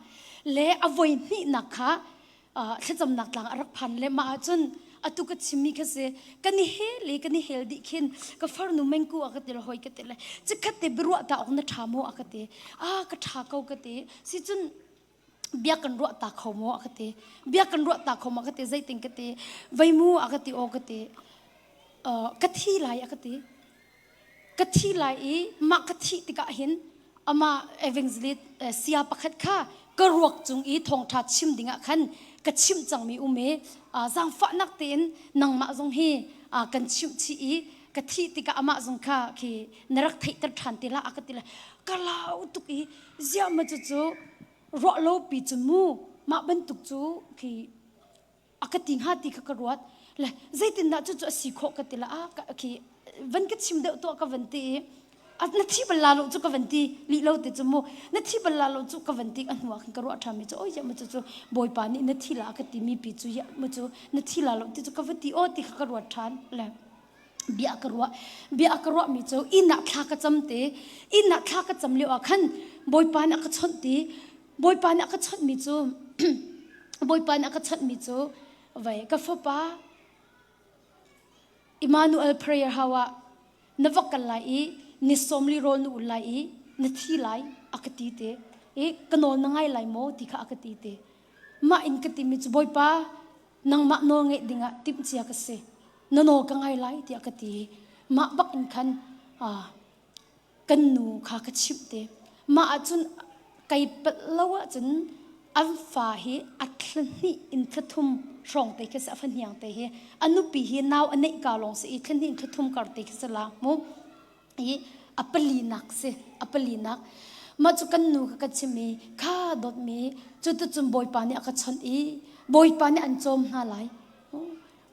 le a voi hnih nak kha uh, thlacamnak tlang a rak phan le ma ahcun atu ka chimmi kha si kan i hel i kan i hel dih khin ka farnu mengku a ka ti le hoi ka ti le cikhat te biruah ta awk na ṭha maw a ka ti a ka ṭha ko ka ti si cun bia kan ruah ta kho maw a ka ti bia kan ruah ta kho maw ka ti zeitin ka ti vei mu a ka ti o ka ti ka thi lai a ka ti ka thi lai i mah ka thi tikah hin ama evangelist sia pakhat kha ka ruak cung i thongtha chim dingah khan ka chim cangmi um i zangfahnak tein nangmah zong hi kan chimh chi i ka thih tikah amah zong kha khi na rak theihter ṭhan ti la a ka ti la ka lau tuk i ziama cu cu ruah lo pi cu mu mah bantuk cu khi a ka ti hnga ti kha ka ruat le zeitindah cucu a si khawh ka ti la a khi van ka chim deuh tuah ka van ti i na thi bal la lo cu ka van ti lih lo te cu mu na thi bal la lo cu ka van ti a hnuak hin ka ruah ṭham mi cu oi mu cu cu bawipa nih na thi la ka ti mi pi cu mu cu na thi la lo ti cu ka va ti o ti kha ka ruat ṭhan le bia ka ruah bia ka ruah mi cu inn ah thla ka cam te inn ah thla ka cam lio ah khan bawipa nih a ka chawnh ti bawipa nih a ka chawnh mi cu bawipa nih a ka chawnh mi cu vai ka fapa Emmanuel prayer hawa na vok kal lai i ni sawmli rawl na ul lai i na thi lai a ka ti te i ka nawl na ngai lai maw ti kha a ka ti te mah in ka timi cu bawipa nangmah nawl ngeih dingah timhcia ka si na nawl ka ngai lai tiah ka ti mah bak in khan kan nu kha ka chimh te mah ahcun Kei palh lo ahcun an fa hi a thla hnih in thla thum hrawng te khi si a fahniang te hi a nupi hi nau a neih ka lawng si i thla hnih in thla thum kar te khi si la mu i a pali nak si a pali nak mah cu kan nu kha ka chim i kha dawtmi cu tu cun bawipa nih a ka chawnh i bawipa nih an cawm hna lai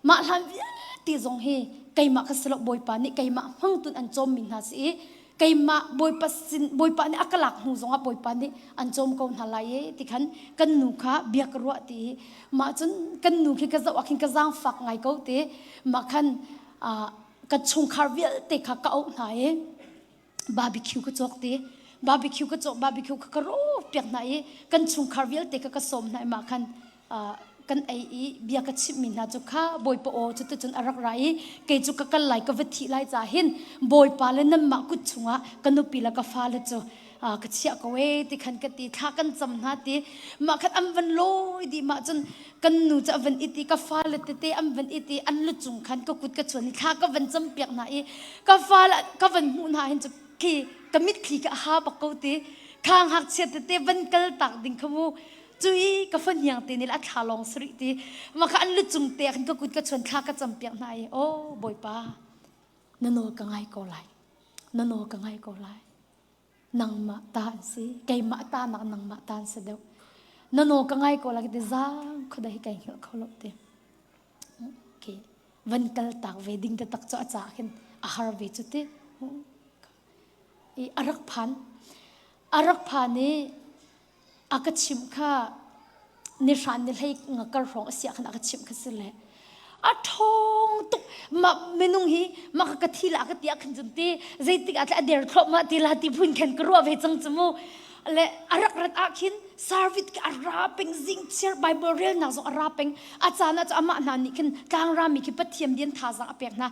Mah hlan vialte zong hi keimah ka si lo Bawipa nih keimah hmangtun an cawmmi hna si i keimah Bawipa sin Bawipa nih a ka lak hnu zongah Bawipa nih an cawm ko hna lai e ti khan kan nu kha bia ka ruah ti mah cun kan nu khi ka zoh ah khin ka zaangfak ngai ko ti mah khan ka chungkhar vialte kha ka auh hna i barbecue ka cawk ti barbecue ka cawk barbecue ka ka piak hna i kan chungkhar vialte ka ka sawm hna i ma khan kan ei i bia ka chimhmi hna cu kha bawipa aw cu tucun a rak ra i kei cu ka kal lai ka va thih lai ca hin bawipa le nanmah kut chungah ka nupi le ka fale cu ka chiah ko e ti khan ka ti thla kan cam hna ti mah khan an van lawi dih mah cun kan nu cu a van it i ka fale tete an van it i an lucung khan ka kut ka chuan i thla ka van campiak hna i ka fale ka van hmuh hna hin cu thli ka mitthli ka ha bak ko ti khang hngakchia tete van kal tak ding kha mu cui ka fon hiang te nil a thla long sri ti ma kha an lucung te khan ka kut ka chuan thla ka campiak hna i o bawipa nano ka ngai ko lai nano ka ngai ko lai nangmah ta an si keimah ta nak nangmah ta an si deuh nano ka ngai ko lak te zang khoda hi kai hngilh kho lo te okay van kal tak ve ding te tak cho acha khin a har ve chu te i arak phan arak phan i a ka chimh kha ni hran ni hlei nga kar hrawng a sia khan a ka chimh kha si le a ṭhawng tuk ma minung hi maka ka thi la ka tia khan cun ti zeitik a tle a der thlop ma ti la ti phun khan ka ruwa ve chang chu mu le a rak rat ah khin service ke a ra peng zing chiar bible rel nak zong a ra peng a cana chu amah hna nih khin tlangra mi khi pathiam dian tha zang a pek hna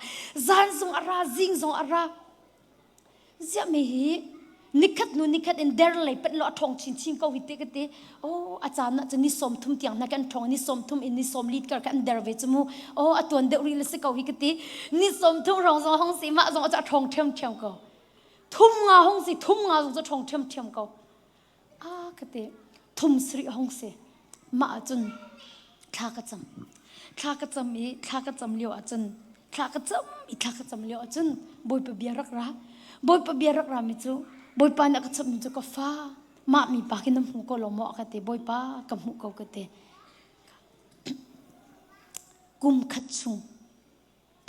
zan zong a ra zing zong a ra ziah me hi nikhat hnu nikhat in der lei panh lo a ṭhawng chinchin ko hi ti ka ti oh a caan ah cun ni sawm thum tiang na kan ṭhawng ni sawm thum in ni sawm lit kar kan der ve cu mu oh a tuan deuh rih le si ko hi ka ti ni sawm thum rong zong hong si mah zong a ṭhawng ṭhiam ṭhiam ko thum nga hong si thum nga zong cu ṭhawng ṭhiam ṭhiam ko a ka ti thum sri hong si ma ahcun thla ka cam thla ka cam i thla ka cam lio ahcun thla ka cam i thla ka cam lio ahcun bawipa bia rak ra bawipa bia rak ra mi cu bawipa nih a ka chimh mi cu ka fa mah mi pa khi na hmu ko lo maw ka ti bawipa ka hmuh ko ka ti kum khat chung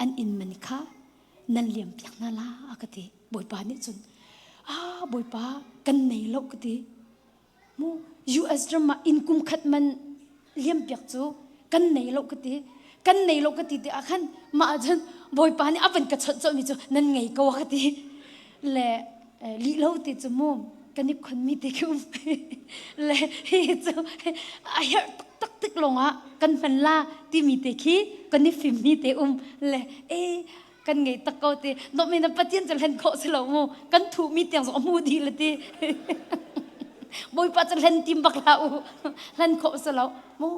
an inn man kha nan liam piak hna la a ka ti bawipa nih cun a bawipa kan nei lo ka ti mu US ram ah inn kum khat man liam piak cu kan nei lo ka ti kan nei lo ka ti te ah khan mah cun bawipa nih a van ka chawnh cawhmi cu nan ngei ko a ka ti le lih lo ti cu mu kan i khon mi te khi um le hi cu a herh tak tik lawng ah kan hman la ti mi te khi kan i fim mi te um le e kan ngei tak ko ti dok men pathian cu hlen khawh si lo mu kan thu mi tiang zong a mu di le ti bawipa cu hlen tim bak la u hlen khawh si lo mu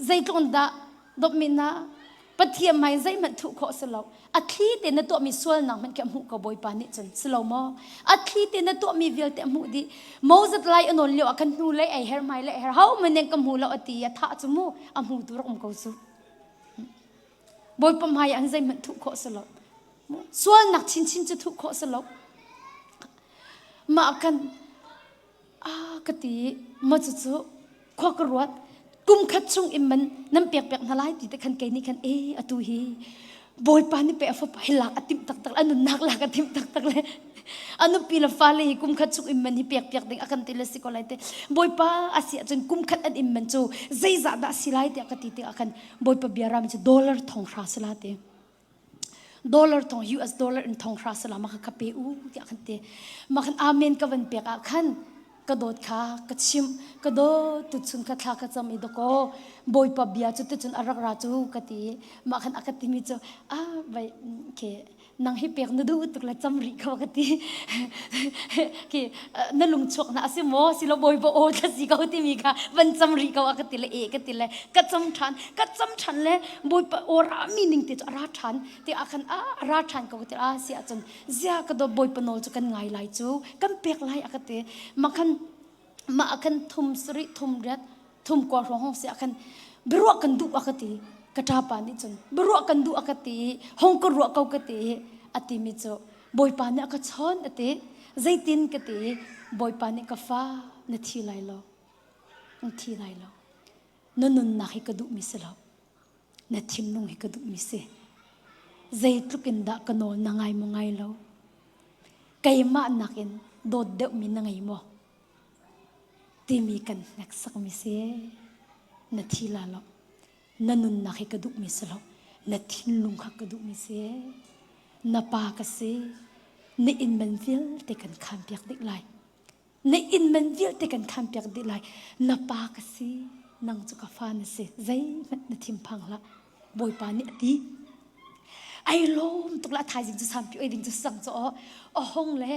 zeitlung dah dawpmi na pathian mai zeihmanh thuh khawh si lo a thli te na tuahmi sualnak hmanh khi a hmuh ko bawipa nih cun si lo maw a thli te na tuahmi vialte a hmuh dih moses lai a nawn lio ah kan hnu lei ai her mai le her ho man ning ka hmu lo a ti a thah cu mu a hmu tu rak um ko su bawipa hmai an zeihmanh thuh khawh si lo sualnak chinchin cu thuh khawh si lo mah kan a ka ti ma cu cu khua ka ruat kum khat chung im man nan pek pek hna lai ti te khan kei nih khan e atu hi bawipa nih pe afop hi lak a tim taktak le nunnak lak a tim taktak le a nupi le fale hi kum khat chung im man hi pek piak ding a kan ti le si ko lai te bawipa a si ahcun kum khat an im man cu zeizah dah si lai tiah ka ti ti a kan bawipa bia ram cu dollar thong hra sila te dollar tong US dollar in thong hra sala maka ka pe u tiah kan te makan amen ka van pek ah khan ka dawt kha ka chim ka dawt tu chung ka thla ka cham i doko boipa bia chu te chun arak ra chu ka ti makhan aka timi chu a vai ke nang hi pek na du tuk la cham ri ka ka ti ke na lungchuak na asi maw silo bawi bo aw thla si ko timi ka van cham ri ko a ka ti le e ka ti le ka cham than ka cham than le bawipa ora mi ning te chu ara than te a kan a ra than ko ti a si a chun zia ka do bawipa no chu kan ngai lai chu kan pek lai a ka ti makhan ma akan thum sri thum riat thum kwa ro hong si akan birwa kan du a ka ti ka ta pa ni chun birwa kan du a ka ti hong ko ruwa ko ka ti ati mi chu Bawipa nih a ka chawn a ti. Zeitin ka ti Bawipa nih ka fa na thi lai lo. Ang thi lai lo. Na nunnak hi ka duhmi si lo. Na thinlung hi ka duhmi si. Zeitluk in dah ka nawl na ngai mu ngai lo. Keimah nakin dawt deuhmi na ngei maw? Timi kan hneksakmi si. Na thi la lo. na nunnak hi ka duhmi si lo na thinlung kha ka duhmi si na pa ka si na inman vialte kan khaan piak dih lai na inman vialte kan khaan piak dih lai na pa ka si nang cu ka fa na si zeihmanh na thinphang hlah bawipa nih a ti ai lawm tuk la thaizing cu sampi oi ding cu sang cu aw a hong le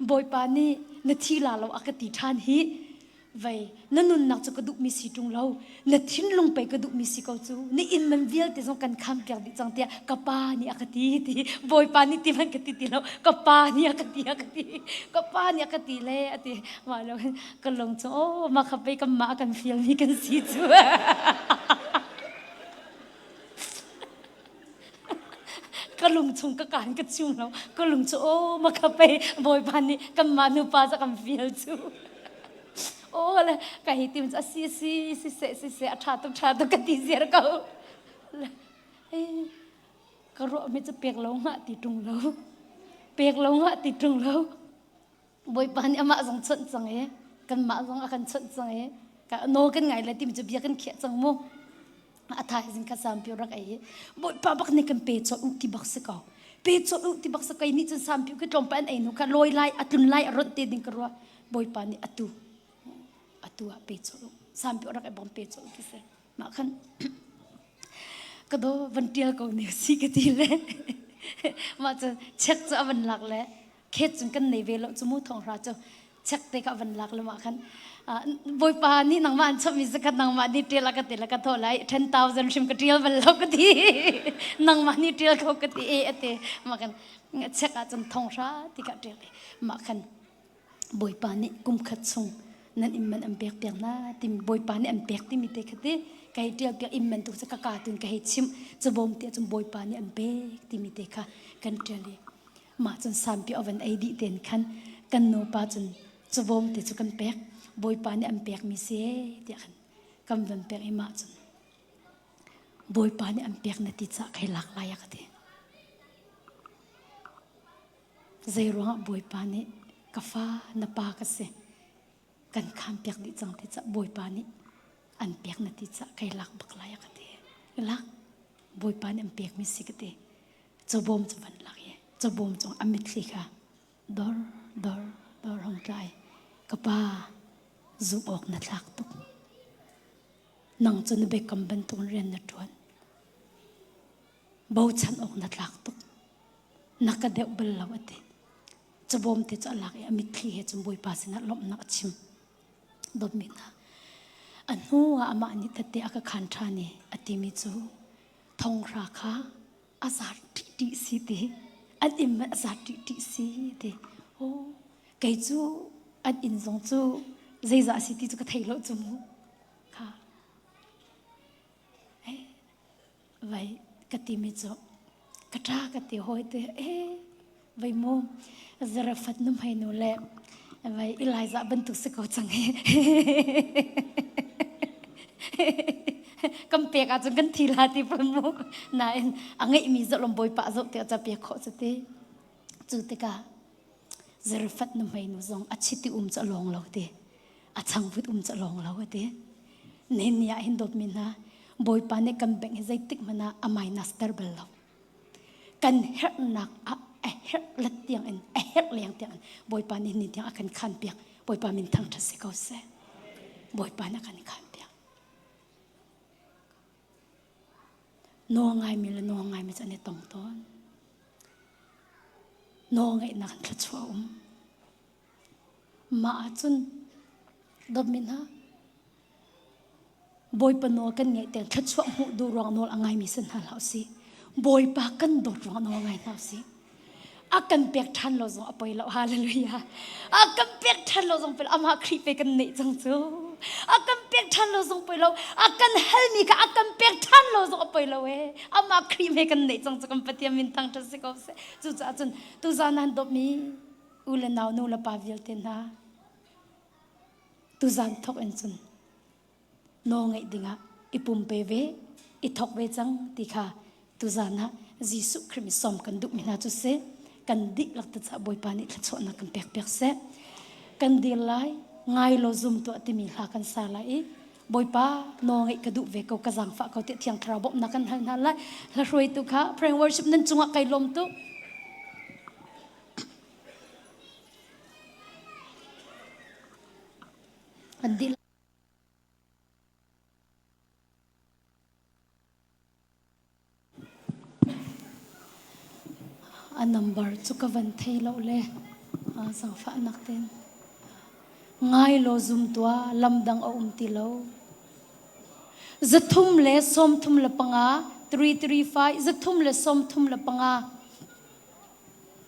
bawipa nih na thi la lo a ka ti ṭhan hi Vei, na nunnak cu ka duhmi si ṭung lo. Na thinlung pei ka duhmi si ko cu. Na inn man vialte zong kan khaanpiak dih cang tiah ka pa nih a ka ti, ti. Bawipa nih ti hmanh ka ti ti lo. Ka pa nih a ka ti, a ka ti. Ka pa nih a ka ti le a ti. Mah lo hin ka lung cu, oh, mah kha pei kan mah a kan fialmi kan si cu. ka lung chung ka kaan ka chung lo ka lung cu o ma kha pei bawipa nih kanmah nupa za kan fial cu o le ka hi tim cu si si si se si se a ṭha tuk ṭha tuk ka ti ziar ko ka ruah mi cu pek lo ngah ti ṭung lo pek lo ngah ti ṭung lo Bawipa nih amah zong chawnh cang i kanmah zong a kan chawnh cang i nawl kan ngai le timi cu bia kan khiah cang mu. A thaizing ka sampi rak ei Bawipa bak nih kan pe cawlh u ti bak si ko. Pe cawlh u ti bak si ko nih cun sampi ka tlawmpa an ei nu ka lawi lai a tlun lai a ronh te ding ka rua Bawipa nih atu atu ah pe cawlh u sampi rak ei bom pe cawlh u ti si mah khan ka do van tial ko ne si ka ti le mah cu check cu a van lak le khet cun kan nei ve lo cu mu thong hra cu chek te ka van lak lama khan boipa ni nangma an chami zakhat nangma ni ṭial ka ti la ka tho lai 10,000 hrim ka ṭial bal lo ka ti nangma ni ṭial kho ka ti e ate ma kan chek a cun thong hra ti ka ṭial ma khan boipa ni kumkhat chung nan imman an pek piak na tim boipa ni an pek timi te khati kai ṭial piak imman tu ka ka tun ka hei chim chubom ti cun boipa ni an pek timi te kha kan ṭial mah cun sanpi oven ei dih ten khan kan nupa cun cavawm te cu kan pek bawipa nih an pekmi se tiah khan kan van pek i mah cun bawipa nih an pek na ti cah kai lak lai ka ti zei ruangah bawipa nih ka fa na pa ka si kan kham piak dih cang ti cah bawipa nih an pek na ti cah kai lak bak lai ka ti lak bawipa nih an pek mi si ka ti chobom cu van lak i chobom cung a mitthli kha dor dor dor hong tlai ka pa zum awk na thlak tuk nang cu na bekam bantuk rian na ṭuan bochan awk na tlak tuk na ka deuh bal lo ati cabawm te cu a lak i a mitthli he cu bawipa sinah lawmhnak a chim dawtmi hna a hnu ah amah nih tette a ka khan ṭhan i a timi cu thonghra kha a zar ṭihṭi si ti an inn a zar ṭihṭi si ti oh kei cu an inn zong cu zeizah a si ti cu ka thei lo cu mu kha vai ka ti mi chu ka tha ka ti hoi te e vai mu zara fat num hai nu le vai Eliza bantuk si ko chang he kam pek ahcun kan thi la ti pon mu nain a ngeih mi zalom bawi pa zoh ti acha pe kho cu ti cu tikah Zarfat nu hmei nu zong a chiti um ca lawng lo ti. A changvut um ca lawng lo ti. Nen ni ah hin dawtmi hna, Bawipa nih kan bengh hi zeitik hmanh ah a minus ter bal lo. Kan herhnak ah a herh let tiang in, a herh leng tiang in, Bawipa nih ni tiang a kan khan piak. Bawipa min thangthat si ko seh. Bawipa na kan khan piak. Nawl ngaimi le nawl ngaimi cu an i tong tawn. Nawl ngeihnak in thluachuah a um. Mah ahcun dawtmi hna, Bawipa nawl kan ngaih tiang thluachuah hmuh duh ruang nawl a ngaimi si hna hlah usih. Bawipa kan dawt ruang nawl ngai hna usih. a kan pek ṭhan lo zong a poi lo hallelujah a kan pek ṭhan lo zong poi lo amah Khrih pe kan neih cang cu a kan pek ṭhan lo zong poi lo a kan helmi kha a kan pek ṭhan lo zong a poi lo e amah Khrih me kan neih cang cu kan Pathian min thang ṭha si ko seh cucaah cun tuzan nan dawpmi u le nau nu le pa vialte hna tuzan thawk in cun nawl ngeih dingah i pumpe ve i thawk ve cang ti kha tuzan ah Jesuh Khrih mi som kan duhmi hna cu si kan dihlak tucah Bawipa nih thluachuahnak kan pek piak seh kan dir lai ngai lo zum tuah timi hla kan sa lai i Bawipa nawl ngeih ka duh ve ko ka zangfah ko tiah thiang thlarau bawmhnak kan hal hna lai hla hruaitu kha prayer worship nan cungah kai lawm tu an dil A nambar cu ka van thei lo le zangfahnak tein ngai law zum tuah lam dang a um ti lo. Zathum le sawmthum le panga, 335, zathum le sawmthum le panga,